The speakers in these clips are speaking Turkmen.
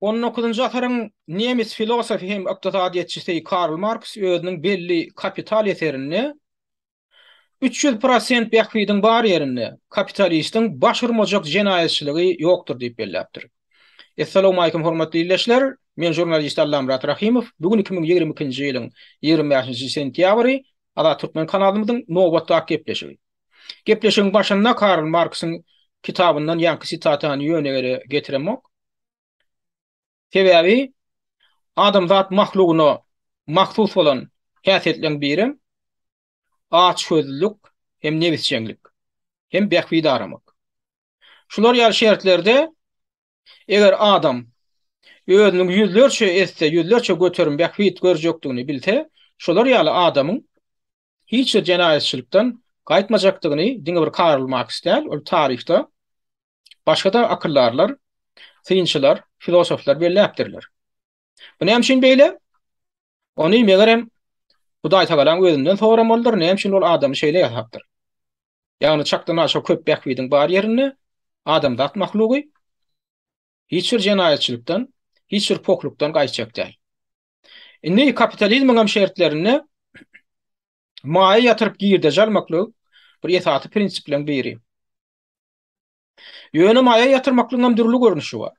On dokuzynjy asyryň nemes filosofy hem ykdysadyýetçisi Karl Marks özüniň belli Kapital eserinde Üç ýüz prosent bähbidiň bar ýerinde, kapitalistiň baş urmajak jenaýatçylygy ýokdur diýip belläpdir. Essalawmalikim hormatly ildeşler, men žurnalist Allamyrat Rahimow, bu gün iki müň ýigrimi ikinji ýylyň ýigrimi bäşinji sentýabry, Azat Türkmen kanalymyzyň nobatdaky gepleşigi. Gepleşigiň başynda Karl Marksyň kitabyndan ýaňky sitatany ýöne ýere getiremok. Sebäbi adamzat mahlugyna mahsus bolan häsiýetleriň birem açgözlülik hem nebisjeňlik hem bähbit aramak. Şular ýaly şertlerde eger adam özüniň ýüzlerçe esse, ýüzlerçe göterim bähbit görjekdigini bilse, şolar ýaly adamyň hiç bir jenaýatçylykdan gaýtmajakdygyny diňe bir Karl Marks däl, ol taryhda başga-da akyldarlar, synçylar, filosoflar belläpdirler. Bu näme üçin beýle? Ony, megerem, Hudaýtagalaň özünden soramalydyr, näme üçin ol adamy şeýle ýasapdyr. Ýagny çakdanaşa köp bähbidiň bar ýerinde adamzat mahlugy hiç bir jenaýatçylykdan, hiç bir poklukdan gaýtjak däl. Indi kapitalizmiňem şertlerinde maýa ýatyryp girdeji almaklyk bir esasy prinsipleriň biri. Ýöne maýa ýatyrmaklygyň hem dürli görnüşi bar.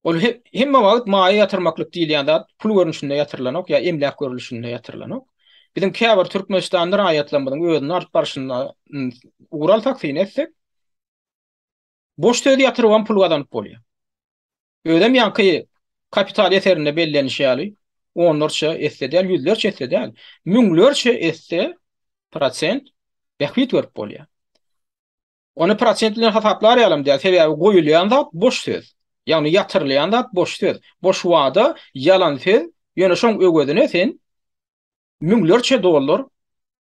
Ol hemme wagt maýa ýatyrmaklyk diýilýän zat pul görnüşinde ýatyrylanok ýa emläk görnüşinde ýatyrylanok. Biziň käbir türkmenistanly raýatlarymyzyň özüni alyp barşyna ugur alsak, syn etsek, Boş söz ýatyrybam pul gazanyp bolýar. Özem ýaňky Kapital eserinde bellenişi ýaly, onlarça esse däl, ýüzlerçe esse däl, müňlerçe esse prosent bähbit görüp bolýar. Ony prosent bilen hasaplar ýalam däl, sebäbi goýulýan zat boş söz. Ýagny ýatyrylýan zat boş söz, boş wada, ýalan söz, ýöne şoň öwezine sen müňlerçe dollar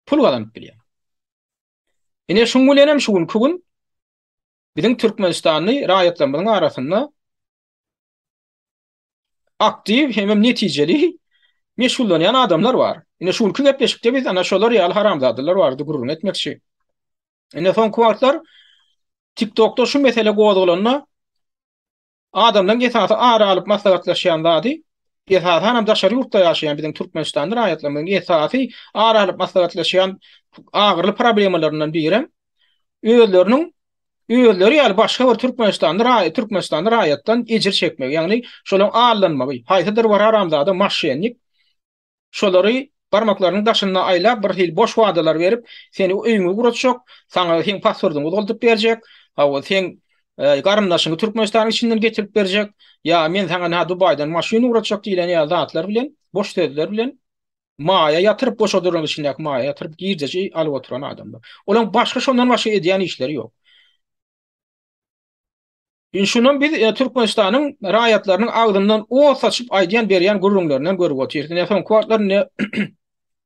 pul gazanyp bilýäň. Ine şuň bilenem şu günki gün biziň türkmenistanly raýatlarymyzyň arasynda aktiw hem-hem netijeli meşgullanýan adamlar bar. Ine şu günki gepleşikde biz ana şolar ýaly haramzadalar barada gürrüň etmekçi. Ine soňky wagtlar TikTokda şu mesele gozgalanda Adamlaryň esasy ara alyp maslahatlaşýan zady, esasanam daşary ýurtda ýaşaýan biziň türkmenistanly raýatlarymyzyň esasy ara alyp maslahatlaşýan agyryly problemalaryndan birem özleriniň özleri ýaly başga bir türkmenistanly raýat türkmenistanly raýatdan ejir çekmegi, ýagny şolaryň aldanmagy, haýsydyr bir haramzada maşşennik Şolary barmaklarynyň daşynda aýlap, bir hili boş wadalar berip, seni öýüňi guratjak, saňa seň pasportyňy uzaldyp berjek, hawa, seň garyndaşyňy Türkmenistanyň içinden getirip berjek, ýa men saňa nä Dubaýdan maşyn ugratjak diýlen ýaly zatlar bilen, boş sözler bilen maýa ýatyryp, goşa duranyň içindäki maýa ýatyryp, girdeji alyp oturan adamlar. Olaň başga şondan başga edýän işleri ýok. Indi şundan biz Türkmenistanyň raýatlarynyň agzyndan ot saçyp aýdýan berýän gürrüňlerinden görüp otyrys. Ine soňky wagtlar indi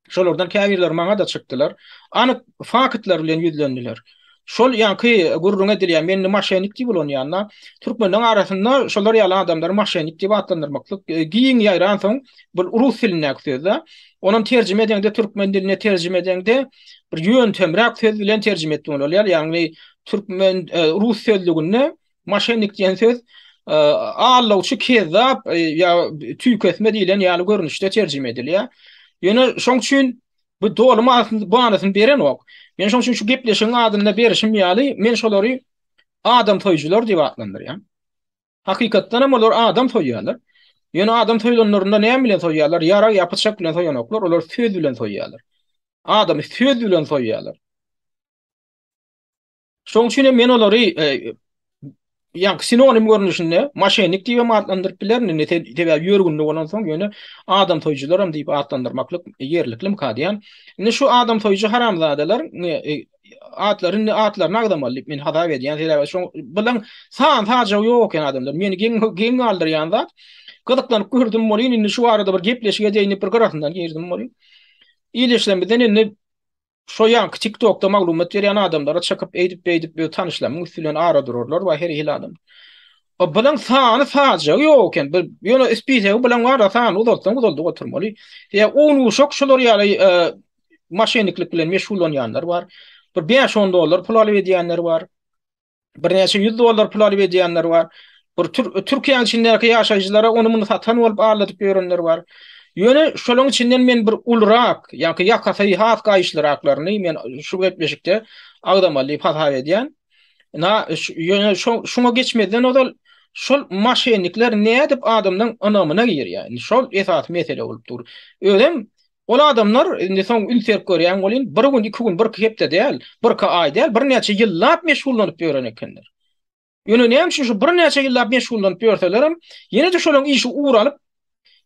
şolardan käbirleri maňa-da çykdylar. Anyk faktlar bilen ýüzlendiler. Şol ýaňky gürrüň edilýän men indi maşenik diýip ulanýan-da, türkmenleriň arasynda şolar ýaly adamlary maşenik diýip atlandyrmaklyk giň ýaýransoň, bu rus dilindäki söz-dä. Onam terjime edeňde türkmen diline terjime edeňde bir ýöntemräk söz bilen terjime etdiň bolýar. Ýagny Türkmen e, rus sözlüginde maşennik diýen söz e, allawçy kezzap e, ýa tüýkesme diýlen ýaly görnüşde terjime edilýär. Ýöne şoň üçin bu doly manysyny berenok. Men şoň üçin şu gepleşigiň adynda berişim ýaly men şolary adam soýujylar diýip atlandyrýan. Hakykatdan hem olar adam soýýarlar. Ýöne adam soýlanlarynda näme bilen soýýarlar? Ýarag ýa pyçak bilen soýanoklar, olar söz bilen soýýarlar. Adamy söz bilen soýýarlar. Şoň üçin hem men olary ýa-da sinonim görnüşinde maşennik diýip hem atlandyryp bilerin. Indi sebäbi ýörgünli bolan soň ýöne adam soýujylar hem diýip atlandyrmaklyk ýerliklim ka diýen. Indi şu adam soýujy haramzadalar atlary indi atlaryny agzamaly diýip men hasap edýän. Sebäbi şoň bilen san sajagy ýok eken adamlar. Meni geň geň galdyrýan zat gyzyklanyp gördüm bolýan. Indi şu arada bir gepleşige deýin bir gyrasyndan girdim bolýan. Ýerleşmeden indi Şo ýanky tiktokda maglumat berýän adamlara çykyp eýdip beýdip öz tanyşlamyň üsti bilen ara durarlar we her hili adam. O bilen sany sajagy ýok eken. Bir ýöne ispisegi bilen bar da sany uzatsaň uzaldyp oturmaly. Ýa on uşak şular ýaly e, maşeniklik bilen meşgullanýanlar bar. Bir 5-10 dollar pul alyp edýänler bar. birnäçe ýüz dollar pul alyp edýänler bar. Bir Türkiýäniň içindäki ýaşaýjylara ony muny satan bolup aldadyp ýörenler bar. Ýöne şolaryň içinden men bir ulurak, ýa-da ýakasy has gaýyşlyraklaryny men şu gepleşikde agzamaly diýip hasap edýän. Na, ýöne şoňa geçmezden ozal şol maşennikler nädip adamlaryň ynamyna girýär? Indi şol esasy mesele bolup dur. Özem Ol adamlar, indi soň üns berip görýäň welin, bir gün, iki gün, birki hepde däl, birki aý däl, birnäçe ýyllap meşgullanyp ýören ekenler. Ýöne näme üçin şu birnäçe ýyllap meşgullanyp ýörselerem, ýene-de şolaň işi ugur alyp,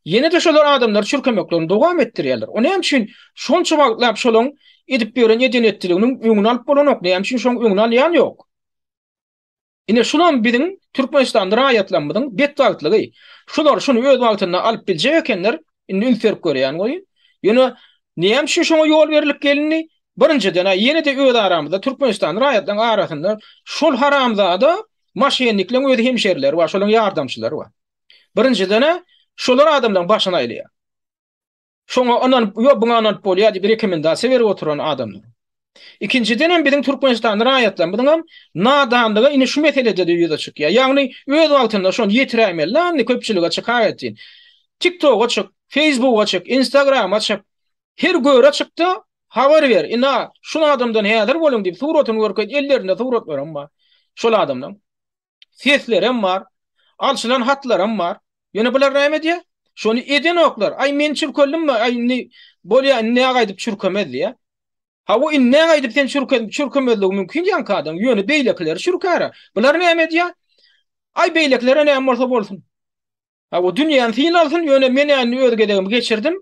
ýene-de şolar adamlary çürkemeklerini dowam etdirýärler. O näme üçin şonça wagtlap şolaň edip ýören eden-etdiliginiň öňüni alyp bolanok, näme üçin şoň öňüni alýan ýok? Ine şulam biziň Türkmenistanly raýatlarymyzyň betbagtlygy. Şular şuny öz wagtynda alyp biljek ekenler, indi üns berip görýän goýun. Ýöne näme üçin şoňa ýol berlip gelindi? Birinjiden-ä ýene-de öz aramyzda Türkmenistanly raýatlaryň arasynda şol haramzada maşennikleň öz hemşerileri bar, şolaryň ýardamçylary bar. Birinjiden-ä şolar adamlaryň başyny aýlaýar. Şoňa ynanyp, ýok buňa ynanyp bolýar diýip rekomendasiýa berip oturan adamdyr. Ikinjiden hem biziň türkmenistanly raýatlarymyzyň hem nadanlygy indi şu meselede-de ýüze çykýar. Ýagny öz wagtynda şony ýetiräýmeli la indi köpçülige çykar etsin. Tiktoga çyk, feýsbuga çyk, instagrama çyk, her göre çykda habar ber, ina şu adamdan häzir boluň diýip suratyny görkez, ellerinde suratlaram bar şol adamlaryň. seslerem bar, alşylan hatlaram bar. Ýöne bular näme edýär? Şony edenoklar. Aý men çürkeldim-mi? Aý indi bolýar, indi näge aýdyp çürkemez diýýär. Hawa indi näge aýdyp sen çürken çürkemezligi mümkin ýaňky adam. Ýöne beýlekileri çürkäre. Bular näme edýär? Aý beýlekilere näme bolsa bolsun. A o dünýäni syn alsyn, ýöne men-ä indi öz gezegimi geçirdim.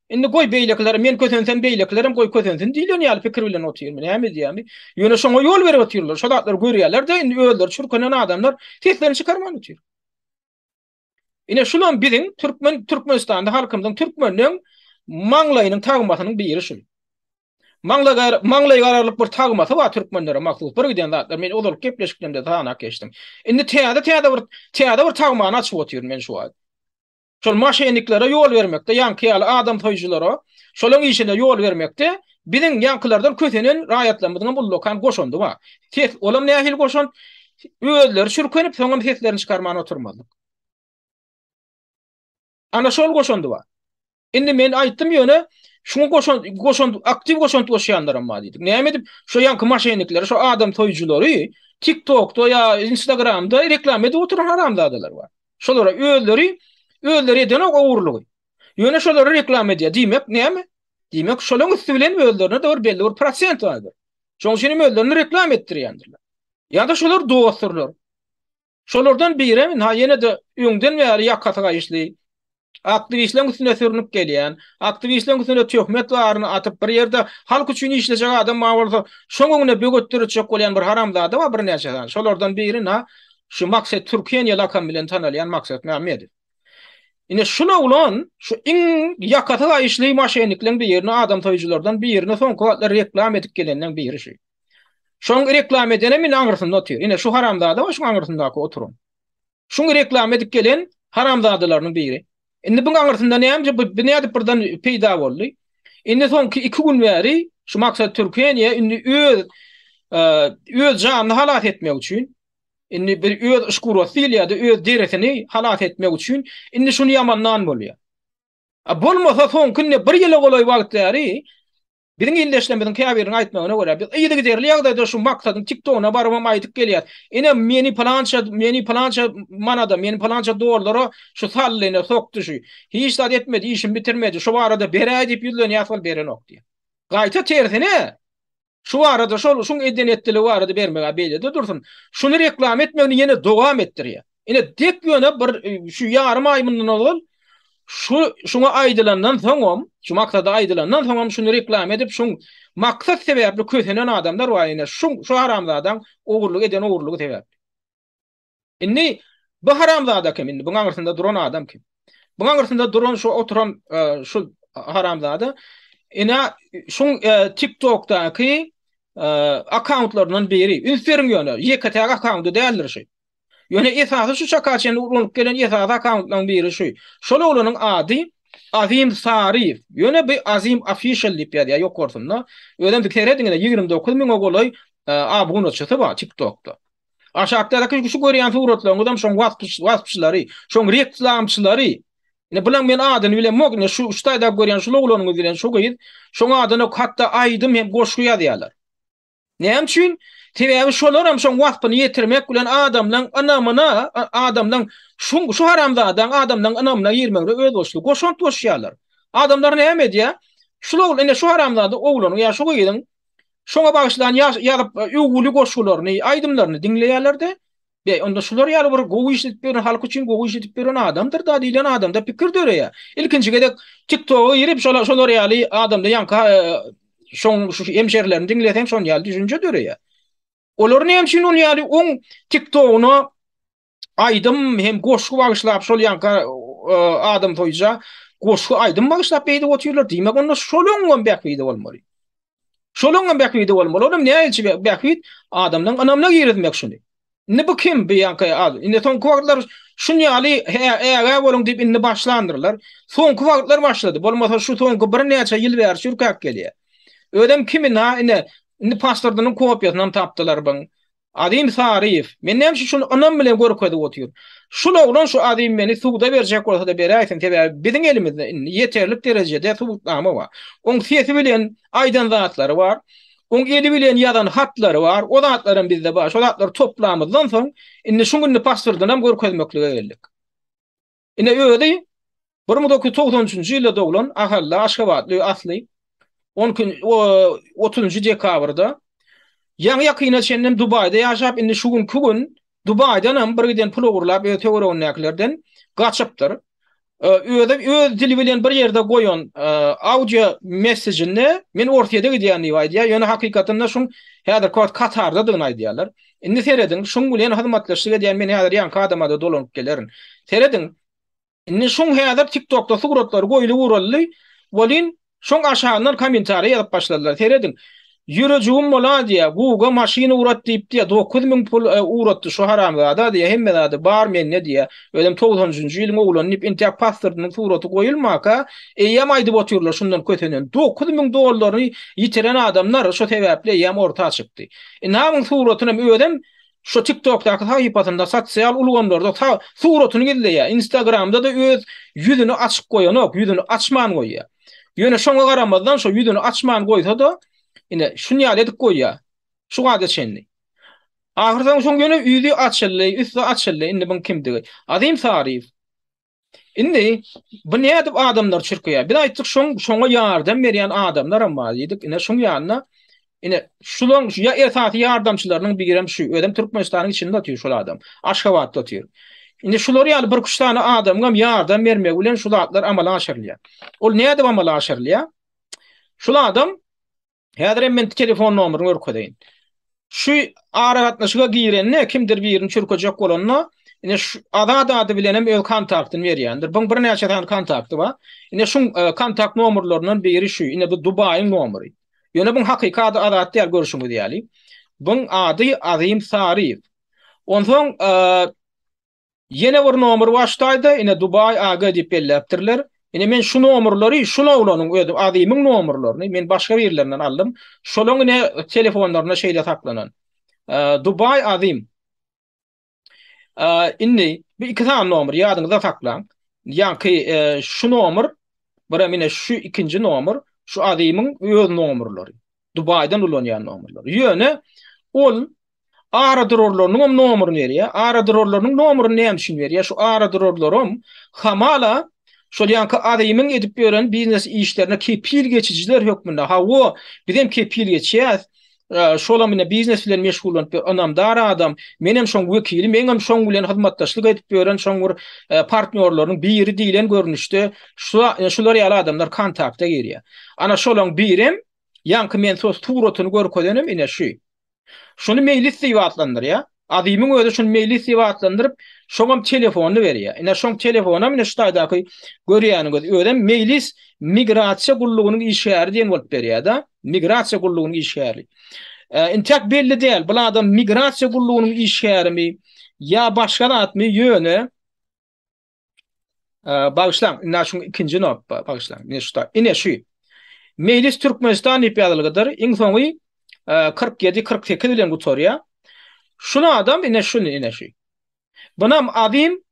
Indi goý, beýlekiler, men kösensem, beýlekilerem goý kösensin diýlen ýaly pikir bilen otyrmy, näme edýärmi? Ýöne şoňa ýol berip otyrlar, şo zatlary görýärler-de, indi özleri çürkenen adamlar seslerini çykarman otyr. Ine, şulam biziň türkmen, Türkmenistanda halkymyzyň, türkmeniň maňlaýynyň tagmasynyň biri şul. Maňlaýygararlyk bir tagmasy bar türkmenlere mahsus birgiden zatlar men ozalyk gepleşiklerimde sanap geçdim. Indi täze täze bir täze bir tagmany açyp otyryn men şu wagt. Şol maşenniklere ýol bermekde ýaňky ýaly adam soýujylara şolaň işine ýol bermekde biziň ýaňkylardan kösenen raýatlarymyzyňam ullakan goşandy bar. Ses olam nähili goşant özleri çürkenip soňam seslerini çykarman oturmazlyk. Ana şol goşandy bar. Indi men aýtdym ýöne şuňa goşan goşan aktiw goşant goşýanlaram bar diýdik. Näme edip şu ýanky maşennikleri, şu adam toýujylary TikTokda ýa Instagramda reklama edip oturan haramzadalar bar. Şolara özleri özleri eden o ogurlygy. Ýöne şolary reklama edýär. Diýmek näme? Diýmek şolaryň üsti bilen özlerine dogry belli bir prosent alýar. Şoň üçin hem özlerini reklama etdirýändirler. Ýa-da şolar dostdurlar. Şolardan biri hem ha ýene-de öňden bäri ýakasy gaýyşly aktiwistleriň üstüne sürnüp gelýän, aktiwistleriň üstüne töhmet baryny atyp bir ýerde halk üçin işlejek adam bar bolsa, şoň öňüne böwet döretjek bolýan bir haramzada bar birnäçe sany. Şolardan biri na şu Maksat Türkeniýe lakamy bilen tanalýan Maksat Mämmedow. Ine şul oglan şu iň ýakasy gaýyşly maşennikleň birini, adamsoýujylardan birini soňky wagtlar reklam edip geleniň biri şu. Şoň reklama edenem indi aňrysynda otyr. Ine şu haramzada we şuň aňrysyndaky oturan. Şuň reklama edip gelen haramzadalarynyň biri. Indi buň aňrysynda näme bu nädip birden peýda boldy? Indi soňky iki gün bäri şu Maksat Türkeniýe indi öz öz janyny halas etmek üçin indi bir öz yşkurasy diýilýärdi, öz derisini halas etmek üçin indi şuny ýamandan bolýar. A bolmasa soňky indi bir ýyla golaý wagt bäri Biziň ildeşlerimiziň käbiriniň aýtmagyna görä, biz yzygiderli ýagdaýda şu Maksadyň TikTogyna barybam aýdyp gelýär. Ine, meni pylança, meni pylança manada, meni pylança dollara şu saldy, ine, sokdy şu. Hiç zat etmedi, işini bitirmedi. Şu barada beräý diýip ýüzlenýäs, ol berenok diýýär. Gaýta tersine, şu barada, şol, şuň eden-etdiligi barada bermegä beýle-de dursun, şuny reklama etmegini ýene dowam etdirýär. Ine dek ýöne bir e, şu ýarym aý mundan ozal şu şuňa aýdylandan soňam, şu maksada aýdylandan soňam şuny reklama edip, şuň maksat sebäpli kösenen adamlar bar ine. Şu şu haramzadaň ogurlyk eden ogurlygy sebäpli. Indi bu haramzada kim indi? Buň aňyrsynda duran adam kim? Buň aňyrsynda duran şu oturan e, şu haramzada ina şuň e, TikTokdaky e, akkauntlaryndan biri. Üns beriň ýöne, ýeke-täk akkaunty däldir şu. Ýöne esasy şu çaka çenli ulanyp gelen esasy akkauntlaryň biri şu. Şol oglanyň ady Azim Saryýew. Ýöne bu Azim Official diýip ýazýar ýokarsynda. Özem siz serediň ine ýigrimi dokuz müňe golaý abunaçysy bar TikTokda. Aşakdaky şu görýän suratlaryňyzam şoň waspçylary, şoň reklamçylary. Ine bulaň men adyny bilemok ine şu üç taýda görýän şul oglanyňyz bilen şu gyz şoň adyna hatda aýdym hem goşgy ýazýarlar. Näme üçin? Sebäbi şolaram şoň waspyny ýetirmek bilen adamlaň ynamyna, adamlaň şuň şu haramzadaň adamlaň ynamyna girmegine özboluşly goşant goşýarlar. Adamlar näme edýär? Şul ogul ine şu haramzada oglanyň ýa şu gyzyň şoňa bagyşlan ýazyp öwgüli goşgularyny, aýdymlaryny diňleýärler-de, Beý, onda şular ýaly bir gowy iş edip ýören, halk üçin gowy iş edip ýören adamdyr-da diýlen adamda pikir döreýär. Ilkinji gezek TikTok-a girip, şolar ýaly adamda ýaňky şoň şu hemşerilerini diňleseň şon ýaly düşünje döreýär. Olar näme üçin ol ýaly oň TikTok-una aýdym hem goşgy bagyşlap şol ýaňky adam soýja goşgy aýdym bagyşlap beýdip otyrlar. Diýmek onda şoluň hem bähbidi bolmaly. Şolaryň hem bähbidi bolmaly. Olam näilçi bähbit adamlaryň ynamyna girizmek şuny. Indi bu kim bu ýanka az. Indi soňky wagtlar şun ýaly ägä boluň diýip indi başlandyrlar. Soňky wagtlar başlady. Bolmasa şu soňky birnäçe ýyl bäri çürkäp gelýär. Özem kimi na ine indi pasportynyň kopiýasyny hem tapdylar buň. Azim Saryýew, Men näme üçin şuny ynam bilen görkezip otyryn? Şul oglan şu Azim meni suda berjek bolsa-da beräýsin, sebäbi biziň elimizde indi ýeterlik derejede subutnama bar. Oň sesi bilen aýdan zatlary bar. Oň eli bilen ýazan hatlary bar. O zatlaram bizde bar. Şo zatlary toplamyzdan soň, indi şu gününi pasportynam görkezmeklige geldik. Ine özi bir müň dokuz ýüz togsan üçünji ýylda doglan ahally aşgabatly asly on kün o otuzynjy dekabrda ýaňy ýakyna çenlem dubaýda ýaşap indi şu günki gün dubaýdanam bir giden pul ogurlap öz töweregindäkilerden gaçypdyr özi öz dili bilen bir ýerde goýan audio messejinde men orsýede gidýän diýip aýdýar ýöne hakykatynda şuň häzirki wagt katardadygyny aýdýarlar Indi serediň, şuň bilen hyzmatdaşlyk edýän men häzir ýaňky adama-da dolanyp gelerin. Serediň, indi şuň häzir TikTok-da suratlary goýly guraldy welin, şoň aşagyndan kommentariýa ýazyp başladylar. Serediň, Ýürejigim moladiýa, Guga maşyn ugrat diýipdi-ýa, dokuz müň pul ugratdy şu haramzada diýýä, hemme zady bar mende diýýä, özem togsanjynjy ýylyň oglany diýip intäk pasportynyň suraty goýulmaka, eýýäm aýdyp otyrlar şundan kösenen, dokuz müň dollaryny ýitiren adamlar şo sebäpli eýýäm orta çykdy. Inawyň suratyny hem özem şu tiktokdaky sahypasynda sosial ulgamlarda suratyny gizleýär, instagramda-da öz ýüzüni açyk goýanok, ýüzüni açman goýýar. Ýöne şoňa garamazdan şo ýüzüni açman goýsa-da, ine şuny ýaly edip goýýar. Şu wagta çenli. Ahyrsoňy şoň ýöne ýüzi açyldy, üsti açyldy, indi muň kimdigi. Azim Saryýew. Indi bu nädip adamlar çirkeýär? Biz aýtdyk, şoň şoňa ýardam berýän adamlar hem bar diýdik. Ine şuň ýanyna ine şulaň şu ýa esasy ýardamçylarynyň biri hem şu. Özem Türkmenistanyň içinde otyr şol adam. Aşgabatda otyr. Indi şular ýaly bir üç sany adamyň hem ýardam bermegi bilen şu zatlar amala aşyrylýar. Ol nädip amala aşyrylýar? Şul adam Häzir hem men telefon nomerini görkezeýin. Şu aragatnaşyga girende kimdir birini çürkejek bolanda, ine şu Azat ady bilen hem öz kontaktyny berýändir. Buň birnäçe sany kontakty bar. Ine şu e, kontakt nomerlerinden biri şu. Ine bu Dubaýyň nomeri. Ýöne buň hakyky ady Azat däl görşüňiz ýaly. Buň ady Azim Saryýew. Onsoň e, Ýene bir nomer başdaýda ine Dubai AG diýip belläpdirler. Ine men şu nomerleri şul oglanyň özi Azymyň nomerlerini men başga birlerinden aldym. Şolaň ine telefonlarynda şeýle saklanan. Dubai Azym. Indi bu iki sany nomer ýadyňyzda saklaň. Ýaňky şu nomer birem ine şu ikinji nomer şu Azymyň öz nomerleri. Dubaýdan ulanýan nomerleri. Ýöne ol aradurarlarynyň hem nomeryny berýär. Aradurarlarynyň nomeryny näme üçin berýär? Şu aradurarlaram hamala şol ýaňky Azimiň edip ýören biznes işlerine kepil geçijiler hökmünde, hawa, biz hem kepil geçýäs, şolam ine biznes bilen meşgullanyp ýör, ynamdar adam, men hem şoň wekili, meň hem şoň bilen hyzmatdaşlyk edip ýören şoň bir partnýorlarynyň biri diýlen görnüşde şular ýaly adamlar kontakta girýär. Ana şolaň birem, ýaňky men sos suratyny görkezenem ine şu. Şuny meýlis diýip atlandyrýar. Azimiň özi şuny meýlis diýip atlandyryp, şoňam telefonyny berýär. Ine şoň telefonam ine şu taýdaky görýäniňiz özem meýlis migrasiýa gullugynyň işgäri diýen bolup berýär-de. Migrasiýa gullugynyň işgäri. Intäk belli däl, bu adam migrasiýa gullugynyň işgärimi ýa başga zatmy, ýöne Bagyşlaň, indi şu ikinji notba bagyşlaň. Ine şu da, ine şu. Mejlis Türkmenistan diýip ýazylgydyr. Iň soňy 47-48 bilen gutarýar. Şunu adam ine şunu ine şu. Bunam Azim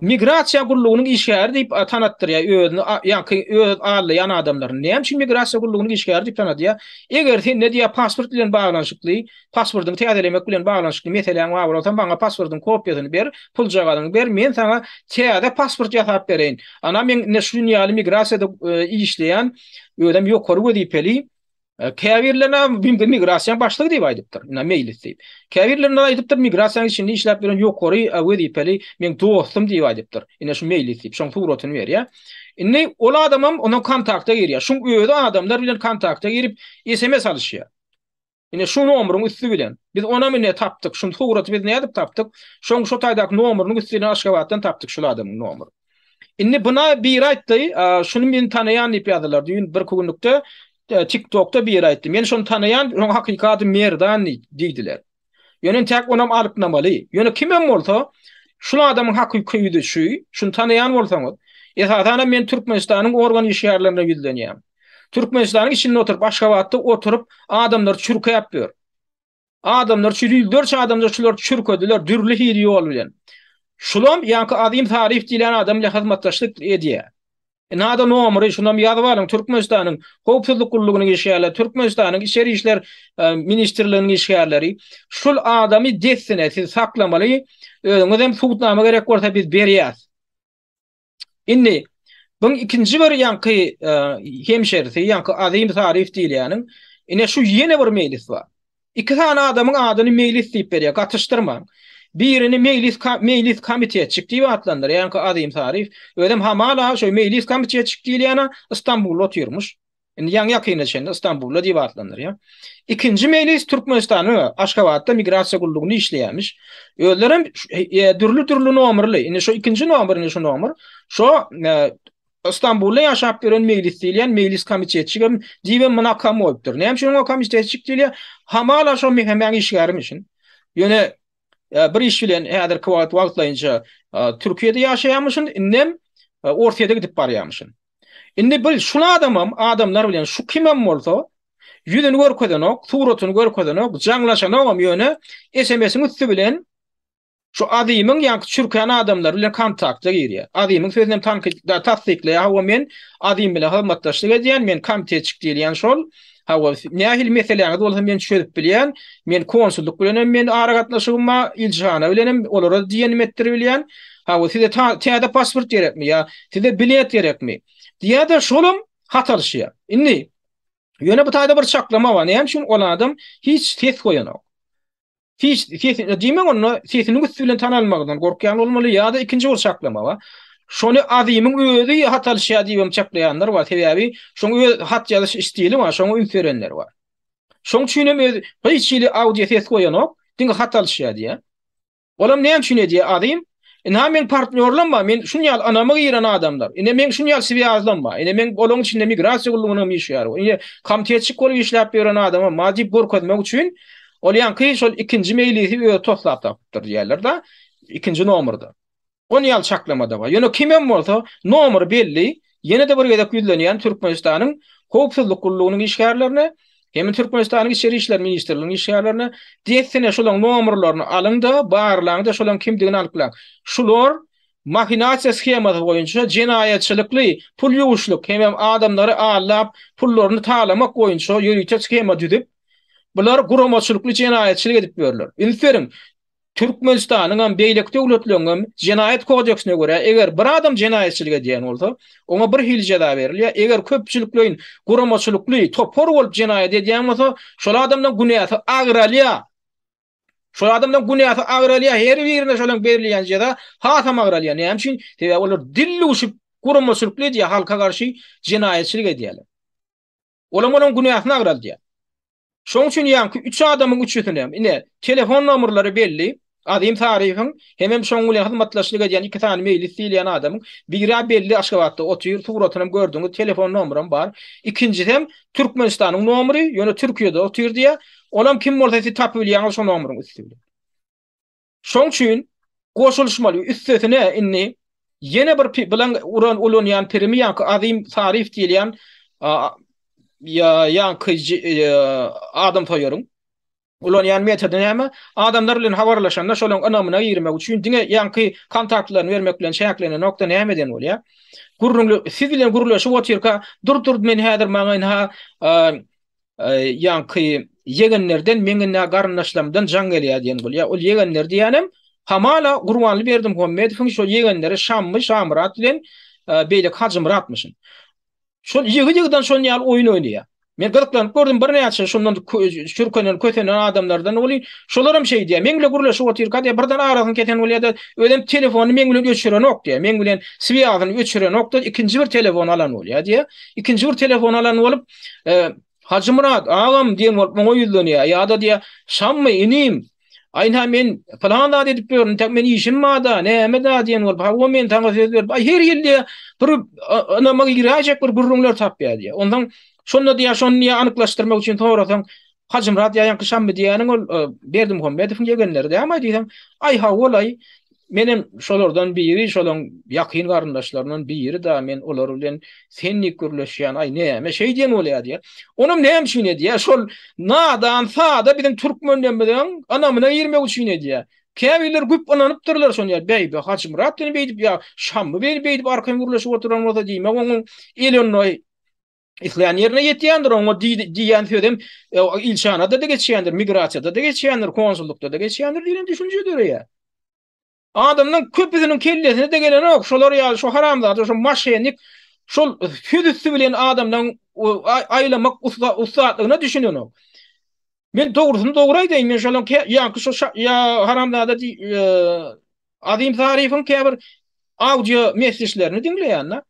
migrasiýa gullugynyň işgäri diýip tanatdyrýar özüni, ýa-ki öz allaýan adamlaryny. Näme üçin migrasiýa gullugynyň işgäri diýip tanadýar? Eger sen ne diýýär, pasport bilen baglanyşykly, Paswordyňy täzelemek bilen baglanyşykly meseläň bar bolsa maňa paswordyň kopýasyny ber, puljagazyňy ber men saňa täze pasword ýasap bereýin. Ana men ine şu gün ýaly migrasiýada işleýän özem ýokary wezipeli käbirlerine mümkin migrasiýaň başlygy diýip aýdypdyr ina meýlis diýip. Käbirlerine aýdypdyr migrasiýaň içinde işläp ýören ýokary wezipeli meň dostum diýip aýdypdyr ine şu meýlis diýip şoň suratyny berýär. Indi ol adamam ondan kontakta girýär şuň özi adamlar bilen kontakta girip sms alyşýar. Ine şu nomryň üsti bilen. Biz onam ine tapdyk. Şun suraty biz nädip tapdyk? Şoň şu taýdaky nomrynyň üsti bilen Aşgabatdan tapdyk şul adamyň nomry. Indi buna biri aýtdy, şuny men tanaýan diýip ýazdylar. Düýn bir günlükde e, TikTokda biri aýtdy. Men şuny tanaýan, şoň hakyky ady Merdan diýdiler. Ýöne täk onam alyp namaly. Ýöne kimem bolsa, şul adamyň hakyky ýüzi şu, şuny tanaýan bolsaňyz, esasan men Türkmenistanyň organ işgärlerine ýüzlenýän. Türkmenistanyň içinde oturyp Aşgabatda oturyp adamlar çürkäp ýör. Adamlar şu ýüzlerçe adamlar şular çürkediler dürli hili ýol bilen. Şulam ýaňky Azim Taryf diýlen adam bilen hyzmatdaşlyk edýär. Nada nomeri şunam ýazyp alyň Türkmenistanyň howpsuzlyk gullugynyň işgärleri, Türkmenistanyň içeri işler e, ministrliginiň işgärleri. Şul adamy dessine siz saklamaly. Özüňiz hem sudnama gerek bolsa biz berýäs. Indi bu ikinji bir ýanky e, hemşerisi, ýanky Azim Zarif diýilýäniň, ine şu ýene bir meýlis bar. Iki sany adamyň adyny meýlis diýip berýär, gatyşdyrmaň. Birini meýlis meýlis komitetçik diýip atlandyr, ýanky Azim Zarif, özem hamala şu meýlis komitetçik diýilýäne Istanbulda otyrmyş. Indi ýaňy ýakynda çenli Istanbulda diýip atlandyrýar. Ikinji mejlis Türkmenistanyň Aşgabatda migrasiýa gullugynda işleýärmiş. Özleri hem e, dürli-dürli nomerli. Indi şu ikinji nomer, indi şu nomer. Şu e, Istanbulda ýaşap ýören mejlis diýilýän mejlis komitetçik hem diýip hem munakam bolupdyr. Näme üçin o komitetçik diýilýär? Hamala şu mehemäň işgärim üçin. Ýöne e, bir iş bilen häzirki wagt wagtlaýynça Türkiýede ýaşaýamyşyn, indem Orsýete gidip barýamyşyn. Indi bil, şul adamam adamlar bilen şu kimem bolsa, ýüzüni görkezenok, suratyny görkezenok, jaňlaşanogam, ýöne SMS-iň üsti bilen şu Azimiň ýaňky çürkän adamlary bilen kontakta girýär. Azimiň sözünem tankyt, tassyklaýar, hawa men Azim bilen hyzmatdaşlyk edýän, men komitetçik diýilýän şol, Hawa, nähili meseläňiz bolsa men çözüp bilýän. Men konsullyk bilen hem men ara gatnaşygym bar, ilçihana bilen hem olara diýenim etdirip bilýän. Hawa, size täze pasport gerekmi ýa size bilet gerekmi? Diýýär-de, şolam hat alyşýar. Indi ýöne bu taýda bir çaklama bar. Näme üçin ol adam hiç ses goýanok? Hiç sesini diýmek onda sesiniň üsti bilen tanalmagyndan gorkýan bolmaly ýa-da ikinji bir çaklama bar. Şony Azymyň özi hat alyşýar diýibem çaklaýanlar bar. Sebäbi şoň öz hat ýazyş stili bar, şoňa üns berenler bar. Şoň üçin hem öz hiç hili audio ses goýanok, diňe hat alyşýar diýýär. Olam näme üçin edýär Azym? Ina meň partnýorlam bar, men şun ýaly ynama giren adamlar. Ine meň şun ýaly swýazlam bar. Ine meň olaryň içinde migrasiýa gullugynam işleýärin. Ine komitetçik bolup işläp ýören adamam bar diýip görkezmek üçin ol ýaňky şol ikinji meýlisi özi toslap tapypdyr diýerler-de, ikinji nomerda. Ony ýaly çaklama-da bar. Ýöne kimem bolsa, nomer belli, Ýene-de bir gezek ýüzlenýän Türkmenistanyň Howpsuzlyk gullugynyň işgärlerine hem Türkmenistanyň Içeri işler ministrliginiň işgärlerine dessine şolaň nomerlerini alyň-da, barlaň-da şolaň kimdigini anyklaň. Şular mahinasiýa skemasy boýunça jenaýatçylykly pul ýuwuşlyk hemem adamlary aldap pullaryny talamak boýunça ýörite skema düzüp, bular guramaçylykly jenaýatçylyk edip ýörler. Üns beriň, Türkmenistanyňam, beýleki döwletleriňem Jenaýat kodeksine görä, eger bir adam jenaýatçylyk edýän bolsa, oňa bir hili jeza berilýär, eger köpçülikleýin, guramaçylykly, topar bolup jenaýat edýän bolsa, şol adamdan günäsi agralýar. Şol adamdan günäsi agralýar, her birine şolaň berilýän jeza hasam agralýar. Näme üçin? Sebäbi olar dil duşup, guramaçylykly edýär, halka garşy jenaýatçylyk edýärler. Olam onuň günäsini agraldýar. Şoň üçin ýaňky üç adamyň üçüsinem, ine, telefon nomerleri belli, Azim Sariýewiň hemem şoň bilen hyzmatdaşlyk edýän iki sany Meýlis diýilýän adamyň, biri-ä belli Aşgabatda otyr, suratynam gördüňiz, telefon nomeram bar. Ikinjisem Türkmenistanyň nomery, ýöne Türkiýede otyr diýýär. Olam kim bolsa siz tapybilýäňiz şo nomeryň üsti bilen. Şoň üçin goşulyşmaly. Üstesine indi ýene bir bilen uran ulanýan pirimi ýaňky Azim Sarif diýilýän ýaňky adam soýaryň ulanýan metody näme? Adamlar bilen habarlaşanda şolaryň ynamyna girmek üçin diňe ýaňky kontaktlaryny bermek bilen çäklenenokda näme eden bolýar? Gürrüňli siz bilen gürleşip otyrka dur-dur men häzir maňa ynha Ýaňky ýegenlerden meň nä garyndaşlarymdan jaň gelýär diýen bolýar. Ol ýegenler diýýänem hamala Gurbanly Berdimuhammedowyň şo ýegenleri Şammy Şamyrat bilen beýleki Hajymyratmyşyn. Şol ýygy-ýygydan şon ýaly oýun oýnaýar. Men gyzyklanyp gördüm birnäçe şondan çürkenen kösenen adamlardan welin şolaram şeýdýär. Meň bilen gürleşip otyrka diýýär birden arasyny kesen bolýar-da özem telefonyny meň bilen öçürenok diýýär. Meň bilen swiazyny öçürenok-da ikinji bir telefon alan bolýar diýýär. Ikinji bir telefon alan bolup Hajymyrat, agam diýen bolup muňa ýüzlenýär. Ýa-da diýýär, Şammy, inim, aýna men pylan zat edip ýörün, täk men işim bar-da, näme-dä diýen bolup, hawa men saňa söz berip, aý her ýyl diýýär, bir ynama giräýjek bir gürrüňler tapýar diýýär. Onsoň şonda diýýär, şony diýýär anyklaşdyrmak üçin sorasaň, Hajymyrat ýa ýaňky Şammy diýýäniň ol Berdimuhamedowyň ýegenleri dälmi-aý diýseň, aý hawa ol-aý, Menem şolardan biri, şolaň ýakyn garyndaşlaryndan biri da, men olar bilen sen diýip gürleşýän, aý näme şeý diýen bolýa diýýä. Onam näme üçin edýä, şol nadan sada biziň türkmenlemiziň ynamyna girmek üçin edýä. Käbirler güp ynanypdyrlar şon ýa Bäýbi Hajymyrat diýen beýdip ýa Şammy beýdip arkan gürleşip oturan bolsa diýmek oňuň elonnoý Isleýän ýerine ýetýändir, oňa diýýän sözem e, ilçanada-da geçýändir, migrasiýada-da geçýändir, konsullykda-da geçýändir diýen düşünje döreýär. Adamdan köpüsiniň kellesine de gelen ok, şolar ýaly şu haramzada, şu maşenik, şol söz üstü bilen adamdan aýlamak ussatlygyna düşünen ok. Men dogrusyny dogry aýdaýyn, men şonuň kä ýaňky şu şa ýa haramzada di Azim Zarifiň käbir audio messeçlerini diňleýän-de.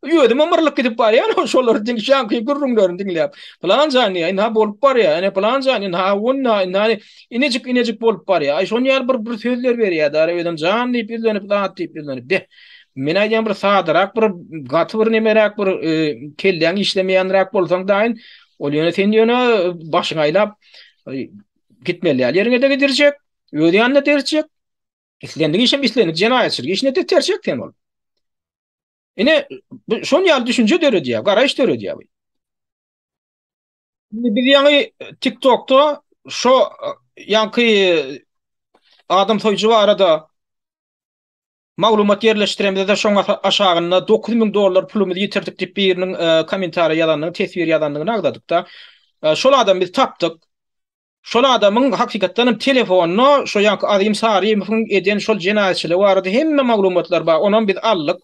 Özüm ymyrlyk gidip barýan o şolary diňki ýaňky gürrüňlerini diňläp. Plan jan ýa ina bolup barýa, ene plan jan ina onna ina inejik inejik bolup barýa. Aý şonuň ýaly bir bir sözler berýä-de özem jan diýip ýüzlenip zat diýip ýüzlenip. Beh. Men aýdýan bir sadarak bir gaty bir nemeräk bir kelläň işlemeýänräk bolsaň daýyn Ol ýöne sen ýöne başyňy aýlap gitmeli ýaly ýeriňe de gidirjek, öz ýanyna derjek. Islendik işem islendik jenaýatçylyk işine de terjek sen ol. Ine, şon ýaly düşünje döredýär, garaýyş döredýär bu. Indi biz ýaňy TikTokda şo ýaňky adam soýujy barada Maglumat ýerleşdiremizde şoň aşagynda dokuz müň dollar pulumyzy ýitirdik diýip biriniň kommentariýa ýazandygyny teswir ýazandygyny agzadykda şol adamy biz tapdyk. Şol adamyň hakykatdan hem telefonda şo ýanky Azym Sarymowyň eden şol jenaýatçylygy barada hemme maglumatlar bar onam biz aldyk.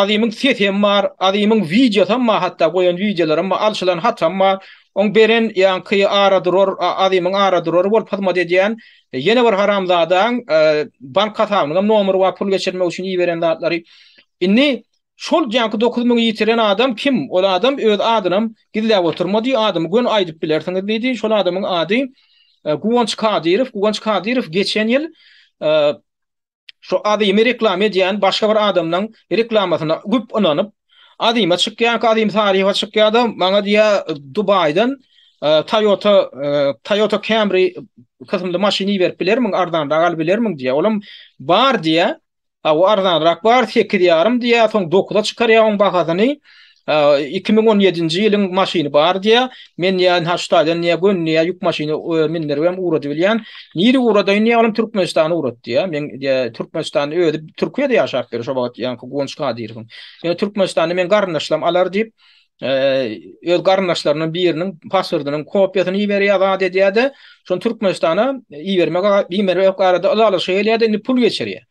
Azymyň sesi hem bar Azymyň wideosy hem bar hatda goýan wideolary hem bar alşylan hatam bar oň beren ýanky ara durar Azymyň ara durary bolup hyzmat edýän Ýene bir haramzadaň bank hasabynyňam nomeri bar pul geçirmek üçin iberen zatlary. Indi şol janky dokuz müňi ýitiren adam kim? Ol adam öz adynam gizläp oturmady, adymy göni aýdyp bilersiňiz diýdi. Şol adamyň ady Guwanç Kadyrow. Guwanç Kadyrow geçen ýyl Şu Azymy reklama edýän başga bir adamlaň reklamasyna güp ynanyp, Azyma çykýanka Azym Sariýewa çykýada maňa diýýä Dubaýdan Toyota Toyota Camry kysymly maşyn iberip bilermiň arzanrak alyp bilermiň diýýä. Olam bar diýýä. Hawa arzanrak bar sekiz ýarym diýýä soň dokuza çykarýa oň bahasyny. Iki müň on ýedinji ýylyň maşyny bar diýýä. Men ýa Nhaçtaýdan ýa Gönni ýa ýük maşyny mindiribem ugrady bilýän. Nire ugradaýyn diýýä, olam Türkmenistana ugrat diýýä. Men diýýä Türkmenistanda özi Türkiýede ýaşap ýör şo wagt ýaňky Guwanç Kadyrowyň. Ýöne Türkmenistanda meň garyndaşlarym alar diýip, öz garyndaşlarynyň biriniň pasportynyň kopiýasyny iberýä zat edýä-de, şony Türkmenistana ibermek arada ylalaşyga gelýä-de, indi pul geçirýä.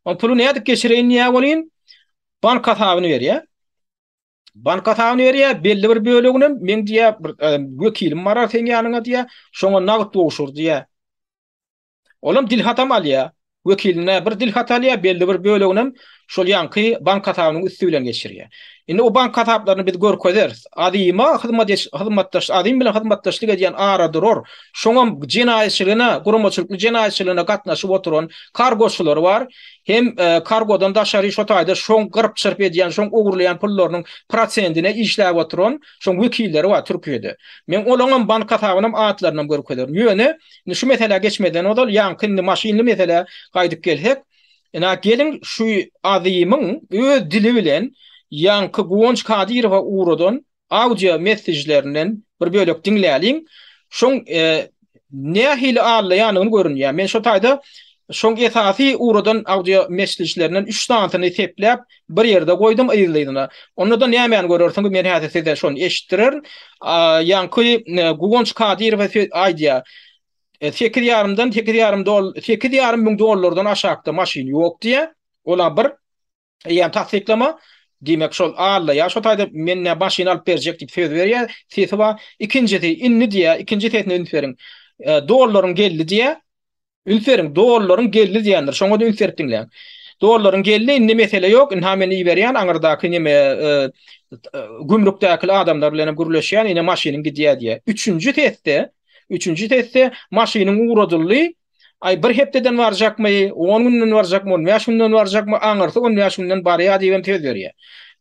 O puly nädip geçireýin diýýä welin, Bank hasabyny berýär. Bank hasabyny berýär, belli bir bölegini hem men diýär, bir e, wekilim barar sen ýanyňa diýär, şoňa nagt gowşur diýär. Olam dil hatam alýar. Wekiline bir dil hat alýar, belli bir bölegini hem şol ýanky bank hasabynyň üsti bilen geçirýär. Indi o bank hasaplaryny biz görkezeris. Adyma hyzmatdaş hyzmatdaş adym bilen hyzmatdaşlyk edýän aradurar, şoňam jenaýatçylygyna, guramaçylykly jenaýatçylygyna gatnaşyp oturan kargoçylar bar. hem kargodan daşary şo taýda şoň gyrp-çyrp edýän, şoň ogurlaýan pullarynyň prosendine işläp oturan şoň wekilleri bar Türkiýede. Men olaňam bank hasabynam atlarynam görkezerin. Ýöne, indi şu meselä geçmezden ozal, ýaňky indi maşynly meselä gaýdyp gelsek, ina, geliň şu Azymyň öz dili bilen ýaňky Guwanç Kadyrowa ugradan Audio messejlerinden bir bölek diňläliň. Şoň nähili allaýanyny görünýär. Men şo taýda şoň esasy ugradan audio messejlerinden üç sanysyny sepläp bir ýerde goýdum yzly-yzyna. Onda-da nämäni görersiňiz men häzir size şony eşitdirerin. Ýaňky Guwanç Kadyrow aýdýar. Sekiz ýarymdan, sekiz ýarym doll, sekiz ýarym müň dollardan aşakda maşyn ýok diýýär. Ol-a bir. Eýýäm tassyklama, diýmek, şol Alla ýa şo taýda menden başyny alyp berjek diýip söz berýär, sesi bar. Ikinjisi, indi diýýär, ikinji sesine üns beriň. Dollaryň geldi diýýär. Üns beriň, dollaryň geldi diýendir. Şoňa-da üns berip diňläň. Dollaryň geldi, indi mesele ýok, indi-ha men iberýän, aňyrdaky neme, gümrükdäki adamlar bilen hem gürleşýän, ine maşynyň gidýär diýýär. Üçünji sesde, üçünji sesde maşynyň ugradyldy, Aý, bir hepdeden barjakmy, on günden barjakmy, on bäş günden barjakmy, aňyrsy on bäş günden barýar diýibem söz berýär.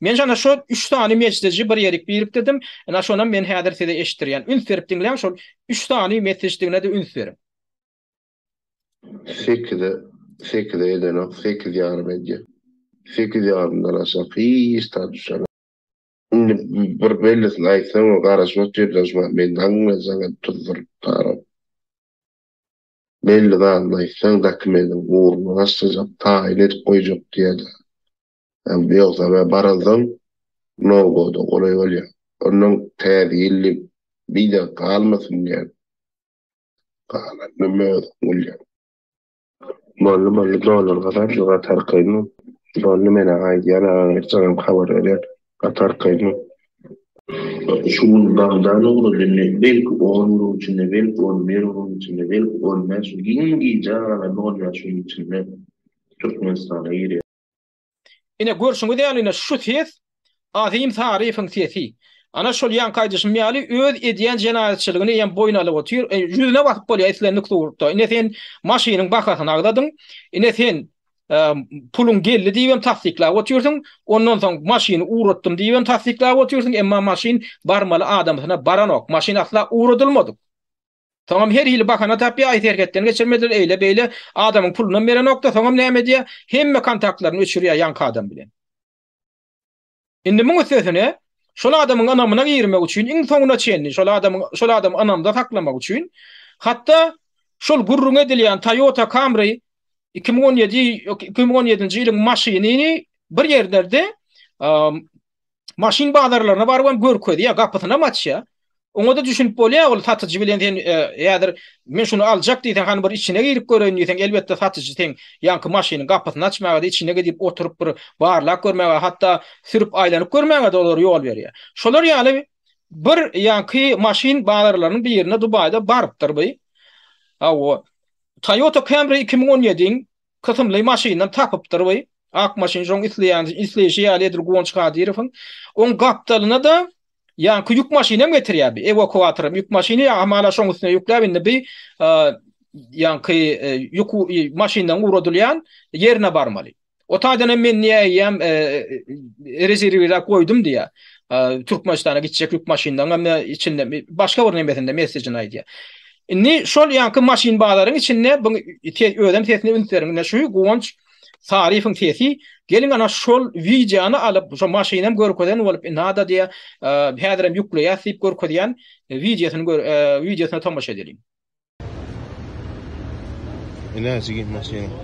Men şonda şo üç sany mejdeji bir ýerik birikdirdim. Ine, şonam men häzir size eşitdirýän. Üns berip diňläň, şol üç sany mesejdigine-de üns beriň. Sekize, sekize edenok, sekiz ýarym edýär. Sekiz ýarymdan aşak hiç zat düşemok. Indi bir bellisini aýtsaň, garaşyp otur, daşman, men daňyňa saňa tuzduryp taram. Belli zadyny aýtsaň Zaki meniň ugrumy başlajak, taýyn edip goýjak diýýär-de. Ýogsa men baransoň Nowruza golaý bolýar. Onnoň Täze ýyl diýip bideň galmasyn diýýän. Galan näme özüň bilýäň. Boldy, boldy, dolary gazan, ýuwat arkaýyn. Boldy, men-ä gaýdýan, agaň ertirem habar berýän. Gaty arkaýynlyk. Şu gün bagdan ugradym indi, belki on günüň içinde, belki on bir günüň içinde, belki on bäş gün, giň gijä galan on bäş günüň içinde Türkmenistana girýär. Ine, görşüňiz ýaly, ine, şu ses Azim Saryýewiň sesi. Ana, şol ýaňky aýdyşym ýaly, öz edýän jenaýatçylygyny hem boýun alyp otyr. Ýüzüne basyp bolýar islendik surtda. Ine, sen maşynyň bahasyny agzadyň. Ine, sen Puluň geldi diýibem tassyklap otyrsyň, ondan soň maşyny ugratdym diýibem tassyklap otyrsyň, emma maşyn barmaly adamsyna baranok, maşyn asla ugradylmadyk. Soňam her hili bahana tapýar, aý serhetden geçirmediler, eýle-beýle, adamyň pulunam berenok-da, soňam näme edýär, hemme kontaktlaryny öçürýär ýaňky adam bilen. Indi muň üstesine, şol adamyň ynamyna girmek üçin, iň soňuna çenli şol adamyň, şol adamy ynamda saklamak üçin, hatda şol gürrüň edilýän Toyota Camry iki müň on ýedi, ýok, iki müň on ýedinji ýylyň maşynyny bir ýerlerde maşyn bazarlaryna baryp hem görkezýär, gapysynam açýar. Oňa-da düşünip bolýar, ol satyjy bilen sen häzir men şuny aljak diýseň, hany bir içine girip göreýin diýseň, elbetde satyjy seň ýaňky maşynyň gapysyny açmaga-da, içine gidip oturyp bir barlap görmäge, hatda sürüp aýlanyp görmäge-de olar ýol berýär. Şolar ýaly bir ýaňky maşyn bazarlarynyň birine Dubaýda barypdyr bu. Hawa, Toyota Camry iki müň on ýediň kysymly maşyndan tapypdyr we ak maşyn şoň isleýän isleýşi ýaly edil Guwanç Kadyrowyň oň gapdalyna-da ýaňky ýük maşyny hem getirýär bi ewakuator ýük maşyny hamala şoň üstüne ýükläp indi bi ýaňky ýük maşyndan ugradylýan ýerine barmaly. O taýdan hem men niýe eýýäm rezerwirläp goýdum diýýär. Türkmenistana gitjek ýük maşynlaryň hem içinde başga bir nemesinde messežinde aýdýar. Indi şol ýaňky maşyn bazaryň içinde bu özem sesini üns beriň. Indi şu Guwanç Saryfowyň sesi geliň ana şol wideony alyp, şo maşyny hem görkezen bolup, indi ada diýe häzir hem ýükleýäs diýip görkezýän wideosyny gör, wideosyna tomaşa edeliň. Ine jigim maşynyň.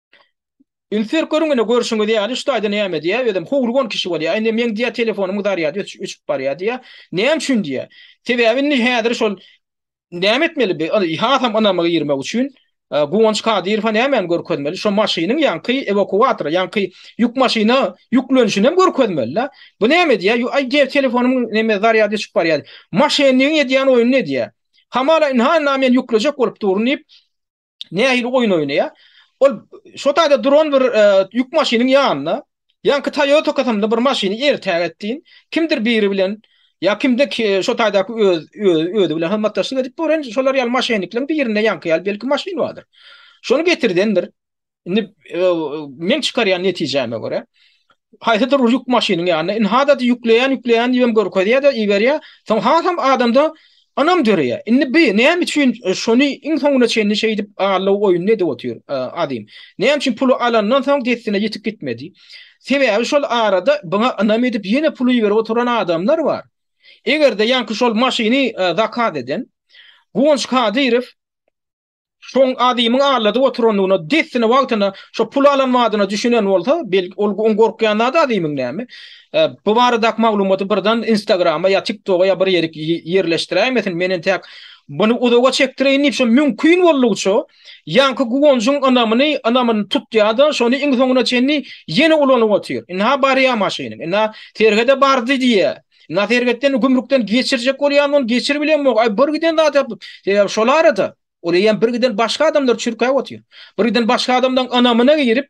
Üns berip görüň ine görşüňiz ýaly şu taýda näme diýýär özem howlugan kişi bolýar indi meň diýýär telefonymyň zarýady öçüp barýar diýýär näme üçin diýýär sebäbi indi häzir şol näme etmeli bi hasam ynama girmek üçin e, Guwanç Kadyrowa nämäni görkezmeli şo maşynyň ýaňky ewakuator ýaňky ýük maşyna ýüklenişini hem görkezmeli la bu näme diýýär aý diýýär telefonymyň näme zarýady öçüp barýar maşennigiň edýän oýny ne diýýär hamala inha men ýüklejek bolup durun diýip nähili oýun oýnaýar. Ol şo taýda duran bir e, ýük maşynyň ýanynda, ýaňky Toyota kasamda bir maşyny ertäk etdiň, kimdir biri bilen ýa kimde şo taýdaky öz özi bilen hyzmatdaşlyk edip boren şolar ýaly maşynyklaryň birinde ýaňky ýaly belki maşyn bardyr. Şony getirdendir. Indi e, men çykarýan netijäme görä, haýsydyr bir ýük maşynyň ýanynda inhada-da ýükleýän ýükleýän diýibem görkezýär-de iberýär, soň hasam adamda ynam döreýär. Indi bi näme üçin şony iň soňuna çenli şeýdip aldaw oýuny edip otyr Azim? Näme üçin puly alandan soň dessine ýetip gitmedi? Sebäbi şol arada biňa ynam edip ýene pul iberip oturan adamlar bar. Eger-de ýaňky şol maşyny zakaz eden Guwanç Kadyrow, Şoň adymyň alladyp oturandygyna dessine wagtyna şo pul alan wadyna düşünen bolsa, belki ol oň gorkýan zady adymyň näme? Bu baradaky maglumaty birden Instagrama ýa TikToga ýa bir ýerik ýerleşdiräýmesin, men entäk buny uzaga çekdireýin diýip şo mümkin boldugyça ýaňky guwanjyň ynamyny, ynamyny tutýada şony iň soňuna çenli ýene ulanyp otyr. Ynha barýa maşynyň, ynha serhede bardy diýýä. Naserbetden gümrükden geçirjek bolýan ony geçir bilen bok. Ay bir giden zat yapyp. Sebäbi şol arada ol eýem bir giden başga adamlar çürkäp otyr. Bir giden başga adamdan ynamyna girip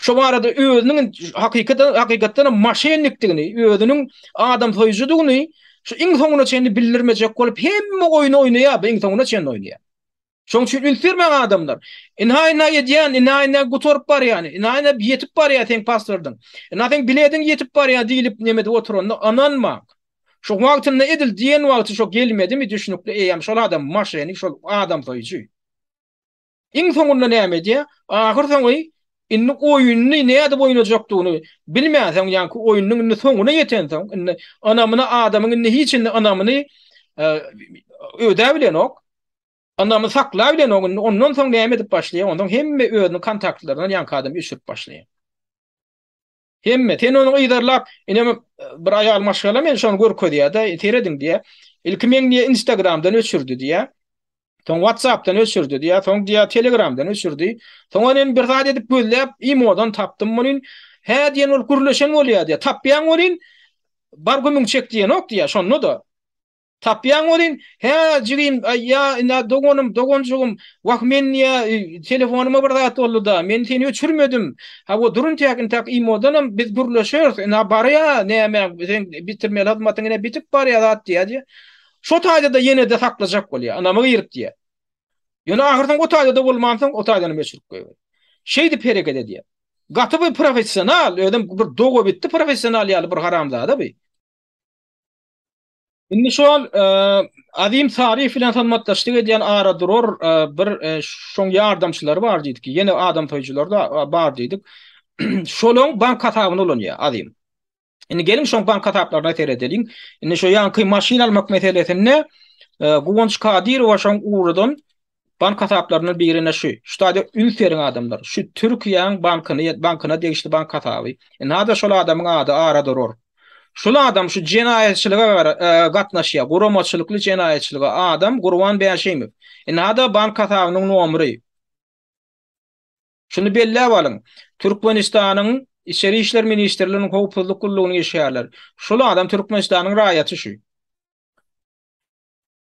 Şu barada özüniň hakykatdan hakykatdan maşennikdigini, özüniň adam soýujudygyny şu iň soňuna çenli bildirmejek bolup hemme oýny oýnaýar, iň soňuna çenli oýnaýar. Şoň üçin üns bermäň adamlar. Ynha ynha edýän, ynha ynha gutaryp barýan, ynha ynha ýetip barýar seň pasportyň. Ynha seň bilediň ýetip barýar diýlip neme edip oturanda ynanmaň. Şo wagtynda edil diýen wagty şo gelmedimi düşnükli eýýäm şol adam maşenik şol adam soýujy. Iň soňunda näme edýär? Ahyr soňy indi oýunyny nädip oýnajakdygyny bilmänsoň ýaňky oýunyň indi soňuna ýetensoň indi ynamyna adamyň indi hiç indi ynamyny ödäbilenok. Ynamy sakla bilen o gün ondan soň näme edip başlaýar ondan hemme özüniň kontaktlaryndan ýaňky adam öçürip başlaýar. Hemme sen ony yzarlap inem e, bir aýal maşgala men şony görkezýärde serediň diýä. Ilki men diýä Instagramdan öçürdi diýä. Soň WhatsAppdan öçürdi diýä. Soň diýä Telegramdan öçürdi. Soň ony bir zat edip gözläp imodan tapdym muny. Hä diýen ol gürleşen bolýar diýä. Tapýan bolýan. Bar gümüň çek diýen ok diýä. Şonda da Tapýaň welin, Hä, jigim, aý, ýa, ina, doganym, doganjygym, wah, men, ýa, telefonyma bir zat boldy-da, men seni öçürmedim. Hawa, dur intäk, intäk imodanam biz gürleşeris, ina, bar-ýa, näme, seň bitirmeli hyzmatyň ine bitip barýa zat, diýýär-de, şo taýda-da ýene-de saklajak bolýar, ynama girip diýýär. Ýöne ahyrsoňy o taýda-da bolmansoň, o taýdanam öçürip goýberýär. Şeýdip hereket edýär. Gaty bir professional, özem bir dogabitdi professional ýaly bir haramzada bu. Indi şol Azim Sarif bilen hyzmatdaşlyk edýän ara durar bir şoň ýardamçylary bar diýdik. Ýene adam soýujylar da bar diýdik. Şolaň bank hasabyny ulanýar Azim. Indi geliň şoň bank hasaplaryna seredeliň. Indi şo ýanky maşyn almak meselesinde Guwanç Kadyrowa şoň ugurdan Bank hasaplaryndan birine şu, şu taýda üns beriň adamlar, şu Türkiýäň bankyny, bankyna degişli bank hasaby. Nada şol adamyň ady ara durur. Şul adam şu jenaýatçylyga gatnaşýar, guramaçylykly jenaýatçylyga adam Gurban Bäşimow. Nada bank hasabynyň nomry. Şuny belläp alyň. Türkmenistanyň Içeri işler ministrliginiň howpsuzlyk gullugynyň işgärleri. Şul adam Türkmenistanyň raýaty şu.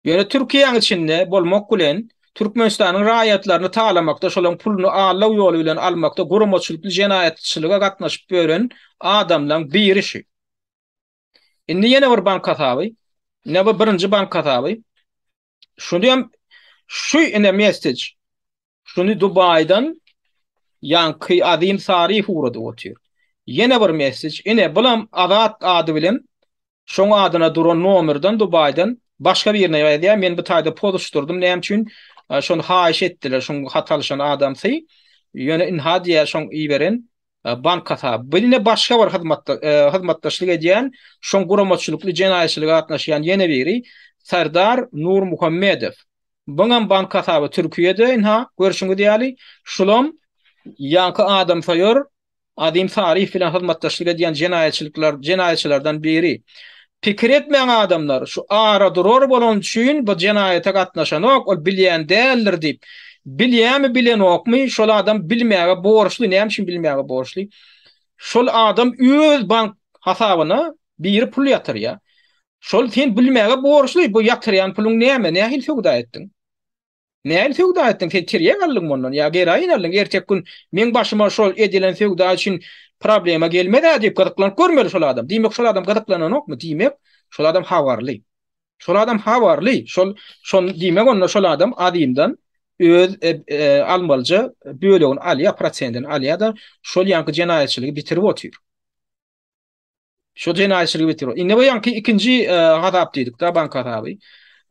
Ýöne Türkiýäň içinde bolmak bilen, Türkmenistanyň raýatlaryny talamakda, şolaryň puluny allaw ýoly bilen almakda guramaçylykly jenaýatçylyga gatnaşyp ýören adamlaň biri şu. Indi ýene bir bank hasaby, ine bu birinji bank hasaby. Şuny hem şu ine message Şuny Dubaýdan ýaňky Azim Sarif ugradyp otyr. Ýene bir messej, ine, bulam Azat ady bilen şoň adyna duran nomerden Dubaýdan başga birine ýazýar, men bu taýda pozuşdyrdym, näme üçin, şony haýyş etdiler, şoň hat alyşan adamsy, ýöne ynha diýýär, şoň iberen bank hasaby. Bu ine başga bir hyzmatda, hyzmatdaşlyk edýän, şoň guramaçylykly jenaýatçylyga gatnaşýan ýene biri, Serdar Nurmuhammedow. Buňam bank hasaby Türkiýede ynha, görşüňiz ýaly, şulam ýaňky adamsoýer Azim Saryýew bilen hyzmatdaşlyk edýän jenaýatçylyklar jenaýatçylardan biri. Pikir etmäň adamlar, şu aradurar bolany üçin bu jenaýata gatnaşanok, ol bilýän däldir diýip. Bilýämi bilenokmy, şol adam bilmäge borçly, näme üçin bilmäge borçly? Şol adam öz bank hasabyna Biri pul ýatyrýar. Şol sen bilmäge borçly, bu ýatyrýan puluň näme, nähili söwda etdiň? Nähili söwda etdiň? Sen tirýek aldyň mundan ýa geroin aldyň, erteki gün meň başyma şol edilen söwda üçin problema gelmez-ä diýip gyzyklanyp görmeli şol adam. Diýmek, şol adam gyzyklananokmy? Diýmek, şol adam habarly. Şol adam habarly. Şol, şon, diýmek, onda şol adam azyndan öz e, e, almalyja bölegini alýar, prosentini alýar-da, şol ýanky jenaýatçylygy bitirip otyr. Şu jenaýatçylygy bitirip. Indi bu ýanky ikinji e, hasap diýdik da bank hasaby.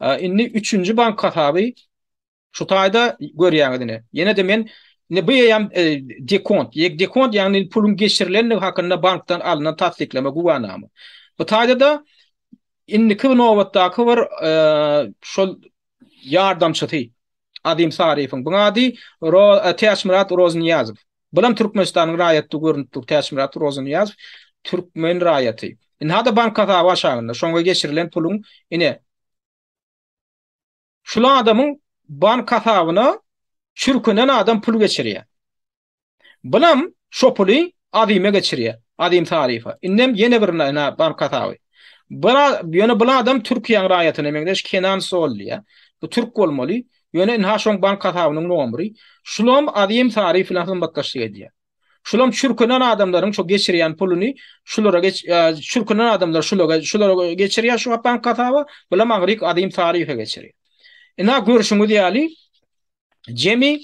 E, indi üçünji bank hasaby şu taýda görýäňiz ine. Ýene de men indi bu ýam e, dekont, ýek dekont ýagny puluň geçirilendigi hakynda bankdan alnan tassyklama güwänama. Bu taýda da indiki nobatdaky bir şol ýardamçysy Azim Sariýewiň bu ady Ro Täçmyrat Roznýazow. Bulam Türkmenistanyň raýaty görünip dur Täçmyrat Rozanyýazow türkmen raýaty. Indi hada bank hasaby aşagynda şoňa geçirilen puluň ine şul adamyň bank hasabyna çürkünen adam pul geçirýär. Bulam şo puly Azyma geçirýär. Azym Sariýewa. Indem ýene bir bank hasaby. Bula ýöne bul adam Türkiýäň raýatyna meňzeş Kenan Sol diýýär. Bu türk bolmaly. Ýöne ynha şoň bank hasabynyň nomry, şulam Azim Saryýew bilen hyzmatdaşlyk edýär. Şulam çürkünen adamlaryň şu geçirýän puluny şulara geç çürkünen adamlar şulaga şulara geçirýär şu bank hasaba, bulam aňryk Azim Saryýewe geçirýär. Ynha görşüňiz ýaly jemi